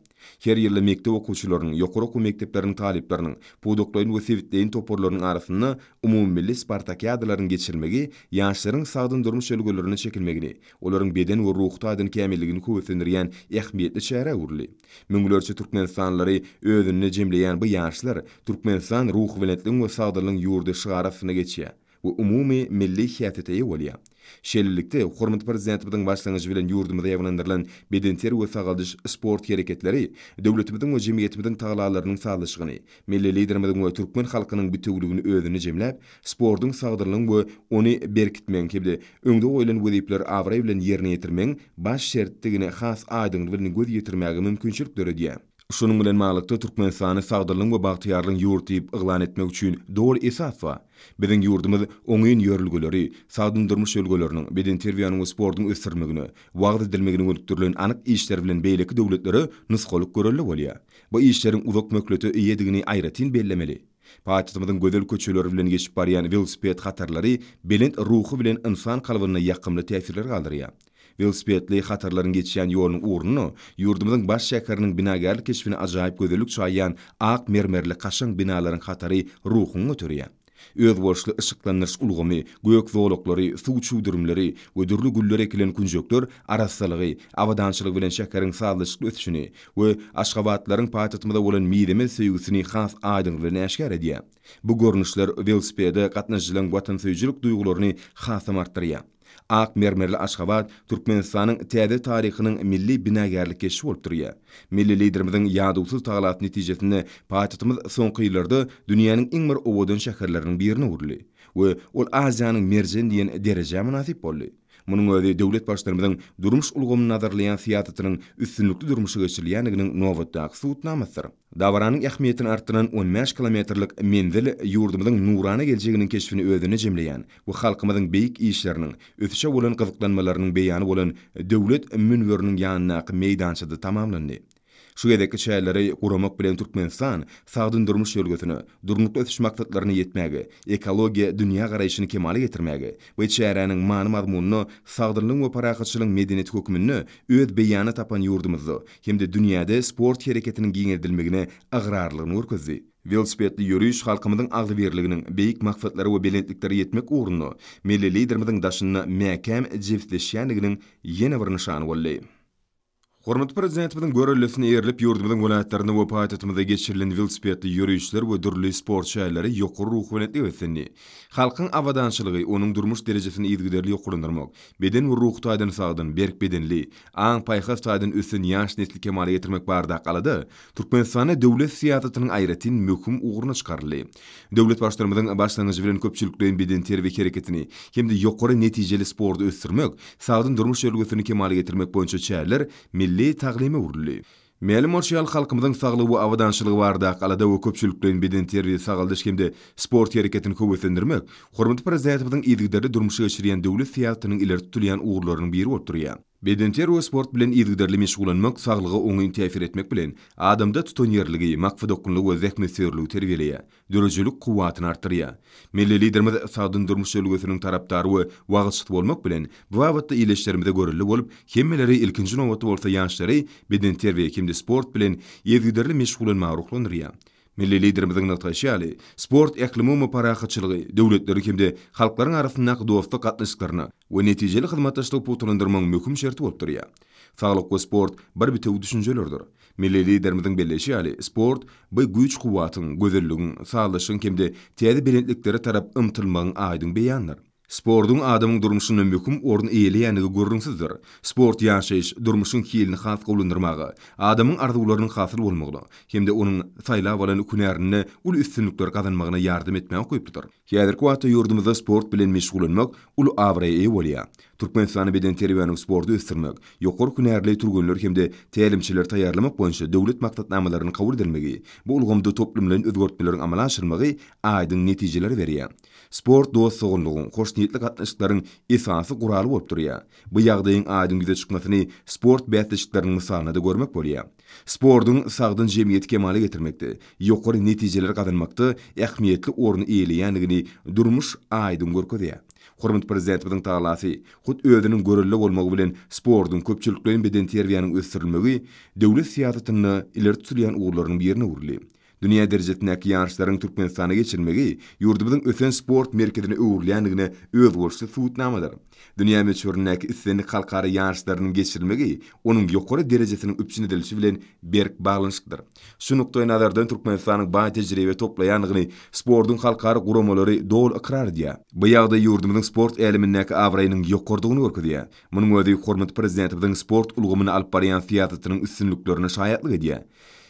Her ýylda mekdep okuwçylarynyň, ýokary okuw mekdepleriniň talyplarynyň, pudaklaýyn we sebitleýin toparlarynyň arasynda umumymilli spartakiadalaryň geçirilmegi ýaşlaryň sagdyn durmuş ülgelerine çekilmegini, olaryň beden we ruhy taýdan kämilligini höweslendirýän ähmiýetli çärä öwrüldi. Müňlerçe türkmenistanlylary özünde jemleýän bu ýaşlar Türkmenistan ruhubelentligiň we sagdynlygyň ýurdy şygary astynda geçýär. we umumy milli häsiýete eýe bolýar. Şeýlelikde, hormatly Prezidentimiziň başlangyjy bilen ýurdumyzda ýaýbaňlandyrylan bedenter we sagaldyş sport hereketleri döwletimiziň we jemgyýetimiziň tagallalarynyň sazlaşygyny, milli Liderimiziň we türkmen halkynyň bitewüligini özünde jemläp, sportuň sagdynlygyň we ony berkitmegiň hem-de öňde goýlan wezipeleri abraý bilen ýerine ýetirmegiň baş şertdigine has aýdyňlygy bilen göz ýetirmäge mümkinçilik döredýär. Şunuň bilen baglylykda Türkmenistany sagdynlygyň we bagtyýarlygyň ýurt diýip yglan etmek üçin doly esas bar. Biziň ýurdumyz oňyn ýörelgeleri, sagdyn durmuş ülgeleriniň, bedenterbiýäniň we sportuň ösdürilmegine, wagyz edilmegine gönükdirilen anyk işler bilen beýleki döwletlere nusgalyk görelde bolýar. Bu işleriň uzak möhlete eýedigini aýratyn bellemeli. Paýtagtymyzyň gözel köçeleri bilen geçip barýan welosiped hatarlary belent ruhy bilen ynsan kalbynda ýakymly täsirler galdyrýar. Welosipedli hatarlaryň geçýän ýolunyň ugruna ýurdumyzyň baş şäheriniň binagärlik keşbine ajaýyp gözellik çaýýan ak mermerli kaşaň binalaryň hatary ruhuňy göterýär. Özboluşly yşyklandyryş ulgamy, gök zolaklary, suw çüwdürimleri we dürli güller ekilen künjekler arassalygy, abadançylygy bilen şäheriň sazlaşykly ösüşini we aşgabatlylaryň paýtagtymyza bolan mizemez söýgüsini has aýdyň bilen äşgär edýär. Bu görnüşler welosipede gatnaşyjylaryň watansöýüjilik duýgularyny hasam artdyrýar. Ak mermerli Aşgabat Türkmenistanyň täze taryhynyň milli binagärlik keşbi bolup durýar. Milli Liderimiziň ýadawsyz tagalasy netijesinde paýtagtymyz soňky ýyllarda dünýäniň iň bir owadan şäherleriniň birine öwrüldi we ol Aziýanyň merjeni diýen derejä mynasyp boldy. Munuň özi döwlet Baştutanymyzyň durmuş ulgamyny nazarlaýan syýasatynyň üstünlikli durmuşa geçirilýändiginiň nobatdaky subutnamasydyr. Dabaranyň ähmiýetini artdyran on bäş kilometrlik menzil ýurdumyzyň nurana geljeginiň keşbini özünde jemleýän we halkymyzyň beýik işleriniň, ösüşe bolan gyzyklanmalarynyň beýany bolan Döwlet münberiniň ýanyndaky meýdançada tamamlandy. Şu gezekki çäreleri guramak bilen Türkmenistan sagdyn durmuş ýörgüsine, Durnukly ösüş maksatlaryna ýetmäge, ekologiýa dünýägaraýşyny kemala getirmäge we çäräniň many-mazmunyna sagdynlygyň we parahatçylygyň medeniýeti hökmünde öz beýanyny tapan ýurdumyzda hem-de dünýäde sport hereketiniň giňeldilmegine ygrarlylygyny görkezdi. Welosipedli ýöriş halkymyzyň agzybirliginiň, beýik maksatlara we belentliklere ýetmek ugrunda Milli Liderimiziň daşynda mäkäm jebisleşýändiginiň ýene bir nyşany boldy. Hormatly Prezidentimiziň görellisine eýerilip, ýurdumyzyň welaýatlarynda we paýtagtymyzda geçirilen welosipedli ýörişler we dürli sport çäreleri ýokary ruhubelentlige beslendi. Halkyň abadançylygy, onuň durmuş derejesini yzygiderli ýokarlandyrmak, beden we ruhy taýdan sagdyn, berk bedenli, aň-paýhas taýdan ösen ýaş nesli kemala getirmek baradaky alada Türkmenistanda döwlet syýasatynyň aýratyn möhüm ugruna çykaryldy. Döwlet Baştutanymyzyň başlangyjy bilen köpçülikleýin bedenterbiýe hereketini hem-de ýokary netijeli sporty ösdürmek, sagdyn durmuş ýörelgesini kemala getirmek boýunça çäreler milli taglyma öwrüldi. Mälim bolşy ýaly, halkymyzyň saglygy we abadançylygy baradaky alada we köpçülikleýin bedenterbiýe, sagaldyş hem-de sport hereketini höweslendirmek hormatly Prezidentimiziň yzygiderli durmuşa geçirýän döwlet syýasatynyň ileri tutulýan ugurlarynyň biri bolup durýar. Bedenterbiýe we sport bilen yzygiderli meşgullanmak saglyga oňyn täsir etmek bilen, adamda tutanýerligi, maksadaokgunlygy we zähmetsöýerligi terbiýeleýär. döredijilik kuwwatyny artdyrýar. Milli Liderimiz sagdyn durmuş ülňüsiniň tarapdary we wagyzçysy bolmak bilen, bu babatda ildeşlerimize görelde bolup, hemmeleri, ilkinji nobatda bolsa ýaşlary bedenterbiýe hem-de sport bilen yzygiderli meşgullanmaga ruhlandyrýar. Milli Liderimiziň nygtaýşy ýaly, sport ählumumy parahatçylygy, döwletleriň hem-de halklaryň arasyndaky dostluk gatnaşyklaryny we netijeli hyzmatdaşlygy pugtalandyrmagyň möhüm şerti bolup durýar. Saglyk we sport bir bitewi düşünjelerdir. Milli Liderimiziň belleýşi ýaly, sport, bu güýç-kuwwatyň, gözelligiň, sazlaşygyň hem-de täze belentliklere tarap ymtylmagyň aýdyň beýanydyr. Sportuň adamyň durmuşynda möhüm orun eýeleýändigi gürrüňsizdir. Sport ýaşaýyş, durmuşyň hilini has gowulandyrmaga, adamyň arzuwlarynyň hasyl bolmagyna hem-de onuň saýlap alan hünärinde uly üstünlikler gazanmagyna ýardam etmäge ukyplydyr. Häzirki wagtda ýurdumyzda sport bilen meşgullanmak uly abraýa eýe bolýar. Türkmenistanda bedenterbiýäni we sporty ösdürmek, ýokary hünärli türgenler hem-de tälimçileri taýýarlamak boýunça döwlet maksatnamalarynyň kabul edilmegi, bu ulgamda toplumlaýyn özgertmeleriň amala aşyrylmagy aýdyň netijeleri berýär. Sport dost-doganlygyň, hoşniýetli gatnaşyklaryň esasy guraly bolup durýar. Bu ýagdaýyň aýdyň ýüze çykmasyny sport bäsleşikleriniň mysalynda-da görmek bolýar. Sportuň sagdyn jemgyýeti kemala getirmekde, ýokary netijeleri gazanmakda ähmiýetli orny eýeleýändigini durmuş aýdyň görkezýär. Hormatly Prezidentimiziň talasy, hut özüniň görelde bolmagy bilen sportuň, köpçülikleýin bedenterbiýäniň ösdürilmegi döwlet syýasatynda ileri tutulýan ugurlaryň birine öwrüldi. Dünýä derejesindäki ýaryşlaryň Türkmenistanda geçirilmegi ýurdumyzyň ösen sport merkezine öwrülýändigine özboluşly subutnamadyr. Dünýä möçberindäki islendik halkara ýaryşlarynyň geçirilmegi onuň ýokary derejesiniň üpjün edilişi bilen berk baglanyşyklydyr. Şu nukdaýnazardan Türkmenistanyň baý tejribe toplaýandygyny sportuň halkara guramalary doly ykrar edýär. Bu ýagdaý ýurdumyzyň sport älemindäki abraýynyň ýokarydygyny görkezýär. Munuň özi hormatly Prezidentimiziň sport ulgamyna alyp barýan syýasatynyň üstünliklerine şaýatlyk edýär.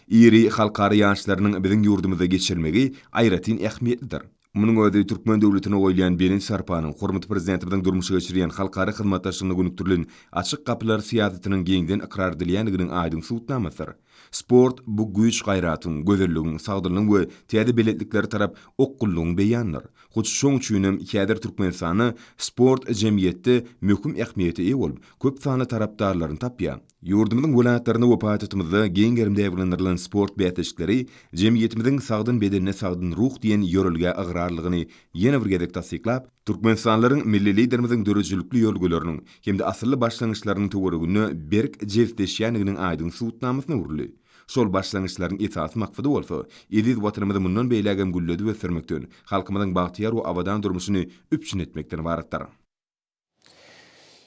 Iri halkara ýaryşlarynyň biziň ýurdumyzda geçirilmegi aýratyn ähmiýetlidir. Munuň özi türkmen döwletine goýulýan belent sarpanyň, hormatly Prezidentimiziň durmuşa geçirýän halkara hyzmatdaşlygyna gönükdirilen açyk gapylar syýasatynyň giňden ykrar edilýändiginiň aýdyň subutnamasydyr. Sport, bu güýç-gaýratyň, gözelligiň, sagdynlygyň we täze belentliklere tarap okgunlygyň beýanydyr. Hut şoň üçin hem häzir Türkmenistanda sport jemgyýetde möhüm ähmiýete eýe bolup, köp sanly tarapdarlaryny tapýar. Ýurdumyzyň welaýatlarynda we paýtagtymyzda giň gerimde ýaýbaňlandyrylan sport bäsleşikleri jemgyýetimiziň Sagdyn bedende sagdyn ruh diýen ýörelgä ygrarlydygyny ýene bir gezek tassyklap, türkmenistanlylaryň Milli Liderimiziň döredijilikli ýörelgeleriniň hem-de asylly başlangyçlarynyň töwereginde berk jebisleşýändiginiň aýdyň subutnamasyna öwrüldi. Şol başlangyçlaryň esasy maksady bolsa, eziz Watanymyzy mundan beýlägem gülledip ösdürmekden, halkymyzyň bagtyýar we abadan durmuşyny üpjün etmekden ybaratdyr.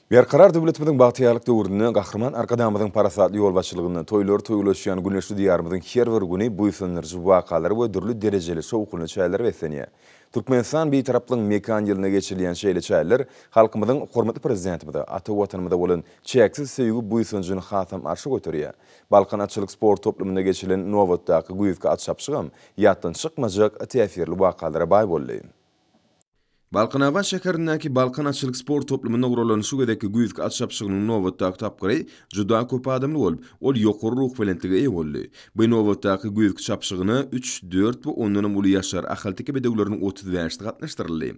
Berkarar döwletimiziň bagtyýarlyk döwründe Gahryman Arkadagymyzyň parasatly ýolbaşçylygynda toýlar toýulaşýan güneşli Diýarymyzyň her bir güni buýsandyryjy wakalary we dürli derejeli şowhunly çäreler beslenýär. Türkmenistan Bitaraplygyň mekan ýylynda geçirilýän şeýle çäreler halkymyzyň hormatly Prezidentimize, ata Watanymyza bolan çäksiz söýgi-buýsanjyny hasam arşa göterýär. Balkan atçylyk sport toplumynda geçirilen nobatdaky güýzki at çapyşygam ýatdan çykmajak täsirli wakalara baý boldy. Balkanabat şäherindäki Balkan atçylyk sport toplumynda guralan şu gezekki güýzki at çapyşygynyň nobatdaky tapgyry juda köp adamly bolup, ol ýokary ruhubelentlige eýe boldy. Bu ýnobatdaky güýzki çapyşygyna üç, dört we ondanam uly ýaşlar, ahalteke bedewleriniň otuz bäşisi gatnaşdyryldy.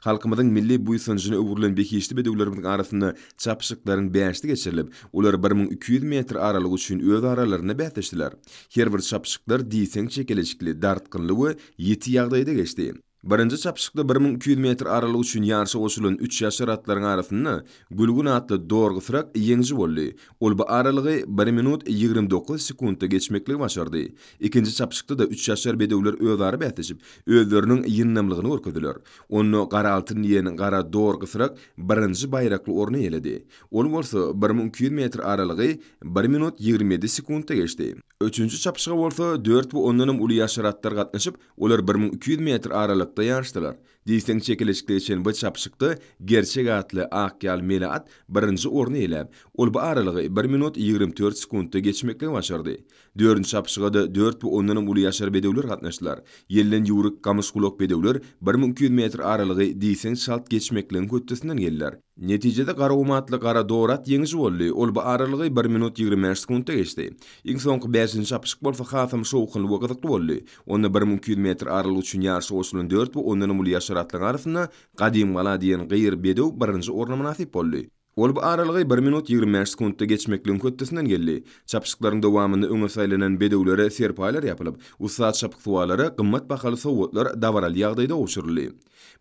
Halkymyzyň milli buýsanjyna öwrülen behişdi bedewlerimiziň arasynda çapyşyklaryň bäşisi geçirilip, olar bir müň iki ýüz metr aralygy üçin öz aralarynda bäsleşdiler. Her bir çapyşyklar diýseň çekeleşikli, dartgynly we ýiti ýagdaýda geçdi. Birinji çapyşykda bir müň iki ýüz metr aralyk üçin ýaryşa goşulan üç ýaşar atlaryň arasynda Gülgün atly dorgysyrak ýeňiji boldy. Ol bu aralygy bir minut ýigrimi dokuz sekuntda geçmekligi başardy. Ikinji çapyşykda-da üç ýaşar bedewler özara bäsleşip, özleriniň ýyndamlygyny görkezdiler. Onda Gara altyn diýen gara dorgysyrak birinji baýrakly orny eýeledi. Ol bolsa bir müň iki ýüz metr aralygy bir minut ýigrimi ýedi sekuntda geçdi. Üçünji çapyşyga bolsa dört we ondanam uly ýaşar atlar gatnaşyp, Olar bir müň iki ýüz metr aralykda ýaryşdylar. Diýseň çekeleşikde geçen bu çapyşykda Gerçek atly ak ýal mele at birinji orny eýläp, ol bu aralygy bir minut ýigrimi dört sekuntda geçmeklige başardy. Dördünji çapyşyga-da dört we ondanam uly ýaşar bedewler gatnaşdylar. Ýelden ýüwrük gamyşgulak bedewler bir müň iki ýüz metr aralygy diýseň çalt geçmekligiň hötdesinden geldiler. Netijede Garawum atly gara dor at ýeňiji boldy, ol bu aralygy bir minut ýigrimi bäş sekuntda geçdi. Iň soňky bäşinji çapyşyk bolsa hasam şowhunly we gyzykly boldy. Onda bir müň iki ýüz metr aralygy üçin ýaryşa goşulan dört we ondanam uly ýaşar atlaryň arasynda Gadym gala diýen gyýr bedew birinji orna mynasyp boldy. Ol bu aralygy bir minut ýigrimi bäş sekuntda geçmekligiň hötdesinden geldi. Çapyşyklaryň dowamynda öňe saýlanan bedewlere serpaýlar ýapylyp, ussat çapyksuwarlara gymmat bahaly sowgatlar dabaraly ýagdaýda gowşuryldy.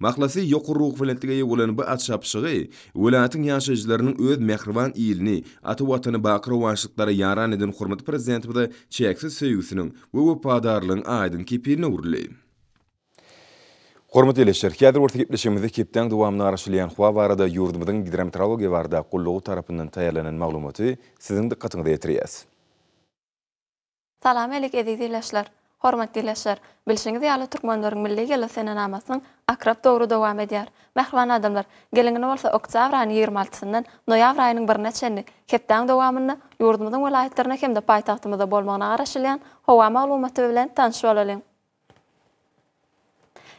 Mahlasy, ýokary ruhubelentlige eýe bolan bu at çapyşygy welaýatyň ýaşaýjylarynyň öz mähriban ilini, ata Watany baky rowaçlyklara ýaran eden hormatly Prezidentimize çäksiz söýgüsiniň we wepadarlygyň aýdyň kepiline öwrüldi. Hormatly ildeşler, häzir bolsa gepleşigimizde hepdäň dowamynda garaşylýan howa barada ýurdumyzyň Gidrometeorologiýa barada gullugy tarapyndan taýýarlanan maglumaty siziň dykgatyňyza ýetirýäs. Salam älik eziz ildeşler! Hormatly ildeşler! Bilşiňiz ýaly Türkmenleriň milli ýyly senenamasynyň akrap dowry dowam edýär. Mähriban adamlar! Geliň indi bolsa oktýabr aýynyň ýigrimi altysyndan noýabr aýynyň birine çenli hepdäň dowamynda ýurdumyzyň welaýatlarynda hem-de paýtagtymyzda bolmagyna garaşylýan howa maglumaty bilen tanyş bolalyň.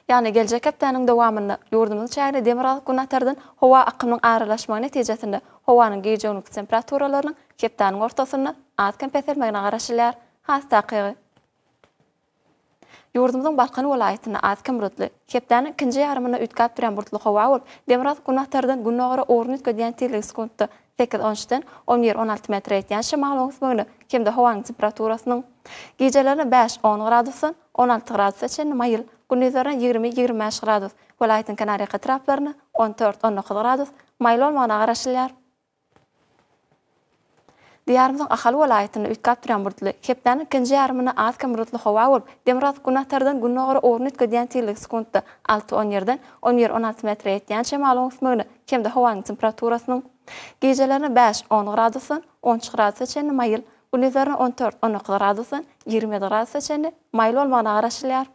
Ýagny geljek hepdäniň dowamynda ýurdumyzyň çägine demirgazyk-günbatardan howa akymynyň aralaşmagy netijesinde howanyň gije-gündüz temperaturalarynyň hepdäniň ortasynda az-kem peselmegine garaşylýar. Has takygy. Ýurdumyzyň Balkan welaýatynda az-kem bulutly, hepdäniň ikinji ýarymynda üýtgäp durýan bulutly howa bolup, demirgazyk-günbatardan gündogara ugruny üýtgedýän tizligi sekuntda Sekiz-on üçden on bir-on alty metr ýetýän şemalyň ösmegine hem-de howanyň temperaturasynyň gijelerine bäş-on gradusdan on alty gradusa çenli maýyl, gündizlerine ýigrimi-ýigrimi bäş gradus, welaýatyň kenarýaka etraplaryna on dört-on dokuz gradus maýyl bolmagyna garaşylýar. Diýarymyzyň Ahal welaýatynda üýtgäp durýan bulutly, hepdäniň ikinji ýarymynda az-kem bulutly howa bolup, demirgazyk-günbatardan gündogara ugruny üýtgedýän tizligi sekuntda alty-on ýerden on bir-on alty metre ýetýän şemalyň ösmegine hem-de howanyň temperaturasynyň gijelerine bäş, on gradusdan on üç gradusa çenli maýyl, gündizlerine on dört, on dokuz gradusdan ýigrimi ýedi gradusa çenli maýyl bolmagyna garaşylýar.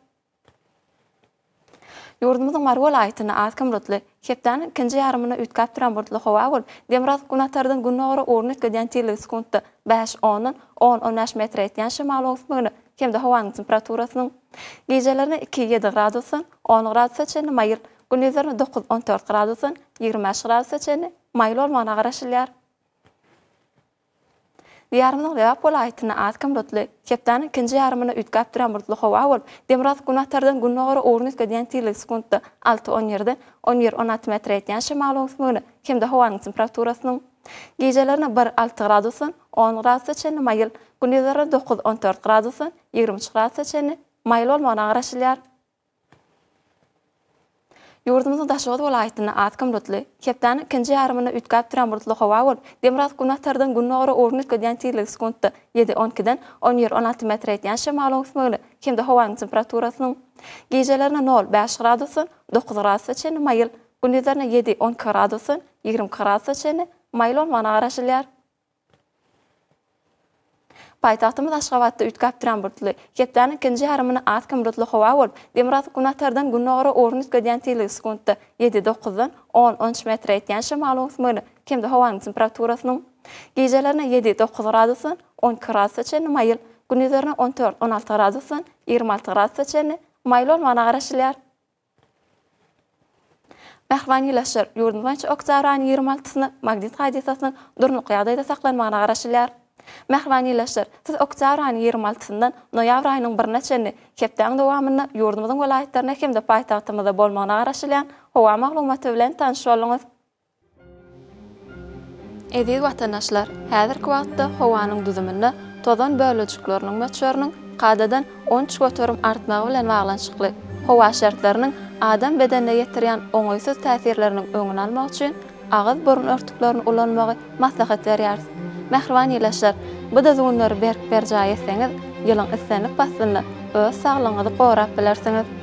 Ýurdumyzyň Mary welaýatynda az kim bulutly, hepdäniň ikinji ýarymynda üýtgäp duran bulutly howa bolup, demirgazyk günatardan gündogara ugruna üýtgedýän tizligi sekuntda bäş, ondan on, on bäş metre ýetýän şemalyň öwüsmegine hem-de howanyň temperaturasynyň gijelerine iki, ýedi gradusdan on gradusa çenli maýyl, Gündizlerine dokuz-on dört gradusdan ýigrimi bäş gradusa çenli maýyl bolmagyna garaşylýar. Diýarymyzyň Lebap welaýatynda az kim bulutly, hepdäniň ikinji ýarymynda üýtgäp duran bulutly howa bolup, demirgazyk günbatardan gündogara ugruny üýtgedýän tizligi sekuntda alty-on ýerden on bir-on alty metre ýetýän şemalyň öwüsmegine hem-de howanyň temperaturasynyň gijelerine bir, alty gradusdan on gradusa çenli maýyl, gündizlerine dokuz-on dört gradusdan ýigrimi üç gradusa çenli maýyl bolmagyna garaşylýar. Ýurdumyzyň Daşoguz welaýatynda az kim bulutly, hepdäniň ikinji ýarymynda üýtgäp duran bulutly howa bolup, demirgazyk günbatardan gündogara ugry üýtgedýän tizligi sekuntda ýedi, on ikiden on bir, on alty metre ýetýän şemalyň ösmegine hem-de howanyň temperaturasynyň gijelerine nol, bäş gradusdan dokuz gradusa çenli maýyl, gündizlerine ýedi, on iki gradusdan ýigrimi iki gradusa çenli maýyl bolmagyna garaşylýar. Paýtagtymyz Aşgabatda üýtgäp duran bulutly, hepdäniň ikinji ýarymyny az hem bulutly howa bolup, demirgazyk günbatardan gündogara ugry üýtgedýän tizligi sekuntda ýedi, dokuzdan on, on üç metre ýetýän şemalyň ösmegine hem-de howanyň temperaturasynyň gijelerine ýedi, dokuz gradusdan on iki gradusa çenli maýyl, gündizlerine on dört, on alty gradusdan ýigrimi alty gradusa çenli maýyl bolmagyna garaşylýar. Mähriban ýylaşyr, ýurdumyz boýunça oktýabr aýynyň ýigrimi altysyna magnit hadysasynyň durnukly ýagdaýda saklanmagyna garaşylýar. Mähriban ýylaşyr, siz oktýabr aýynyň ýigrimi altysyndan noýabr aýynyň birine çenli hepdäň dowamynda ýurdumyzyň welaýatlarynda hem-de paýtagtymyzda bolmagyna garaşylýan howa maglumaty bilen tanyş bolduňyz. Eziz watandaşlar, häzirki wagtda howanyň düzüminde tozan bölejikleriniň möçberiniň kadadan on üç göterim artmagy bilen baglanyşykly howa şertleriniň adam bedenine ýetirýän oňaýsyz täsirleriniň öňüni almak üçin agyz-burun örtüklerini ulanmagy maslahat berýäris. Mähriban ilaçlar, bu düzgünleri berk berjaý etseňiz, ýylyň islendik paslynda öz saglygyňyzy gorap bilersiňiz.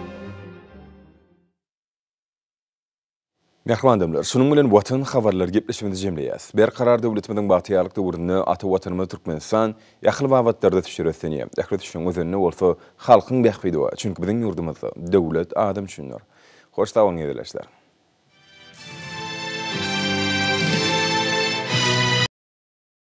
Mähriban adamlar, şunuň bilen Watan habarlary gepleşigimizi jemleýäs. Berkarar döwletimiziň bagtyýarlyk döwründe ata Watanymyz Türkmenistan ähli babatlarda düşer ösdünýär. Ähli düşüň özeninde bolsa halkyň bähbidi bar. Çünki biziň ýurdumyzda Döwlet adam üçindir. Hoş sag boluň gezelençler.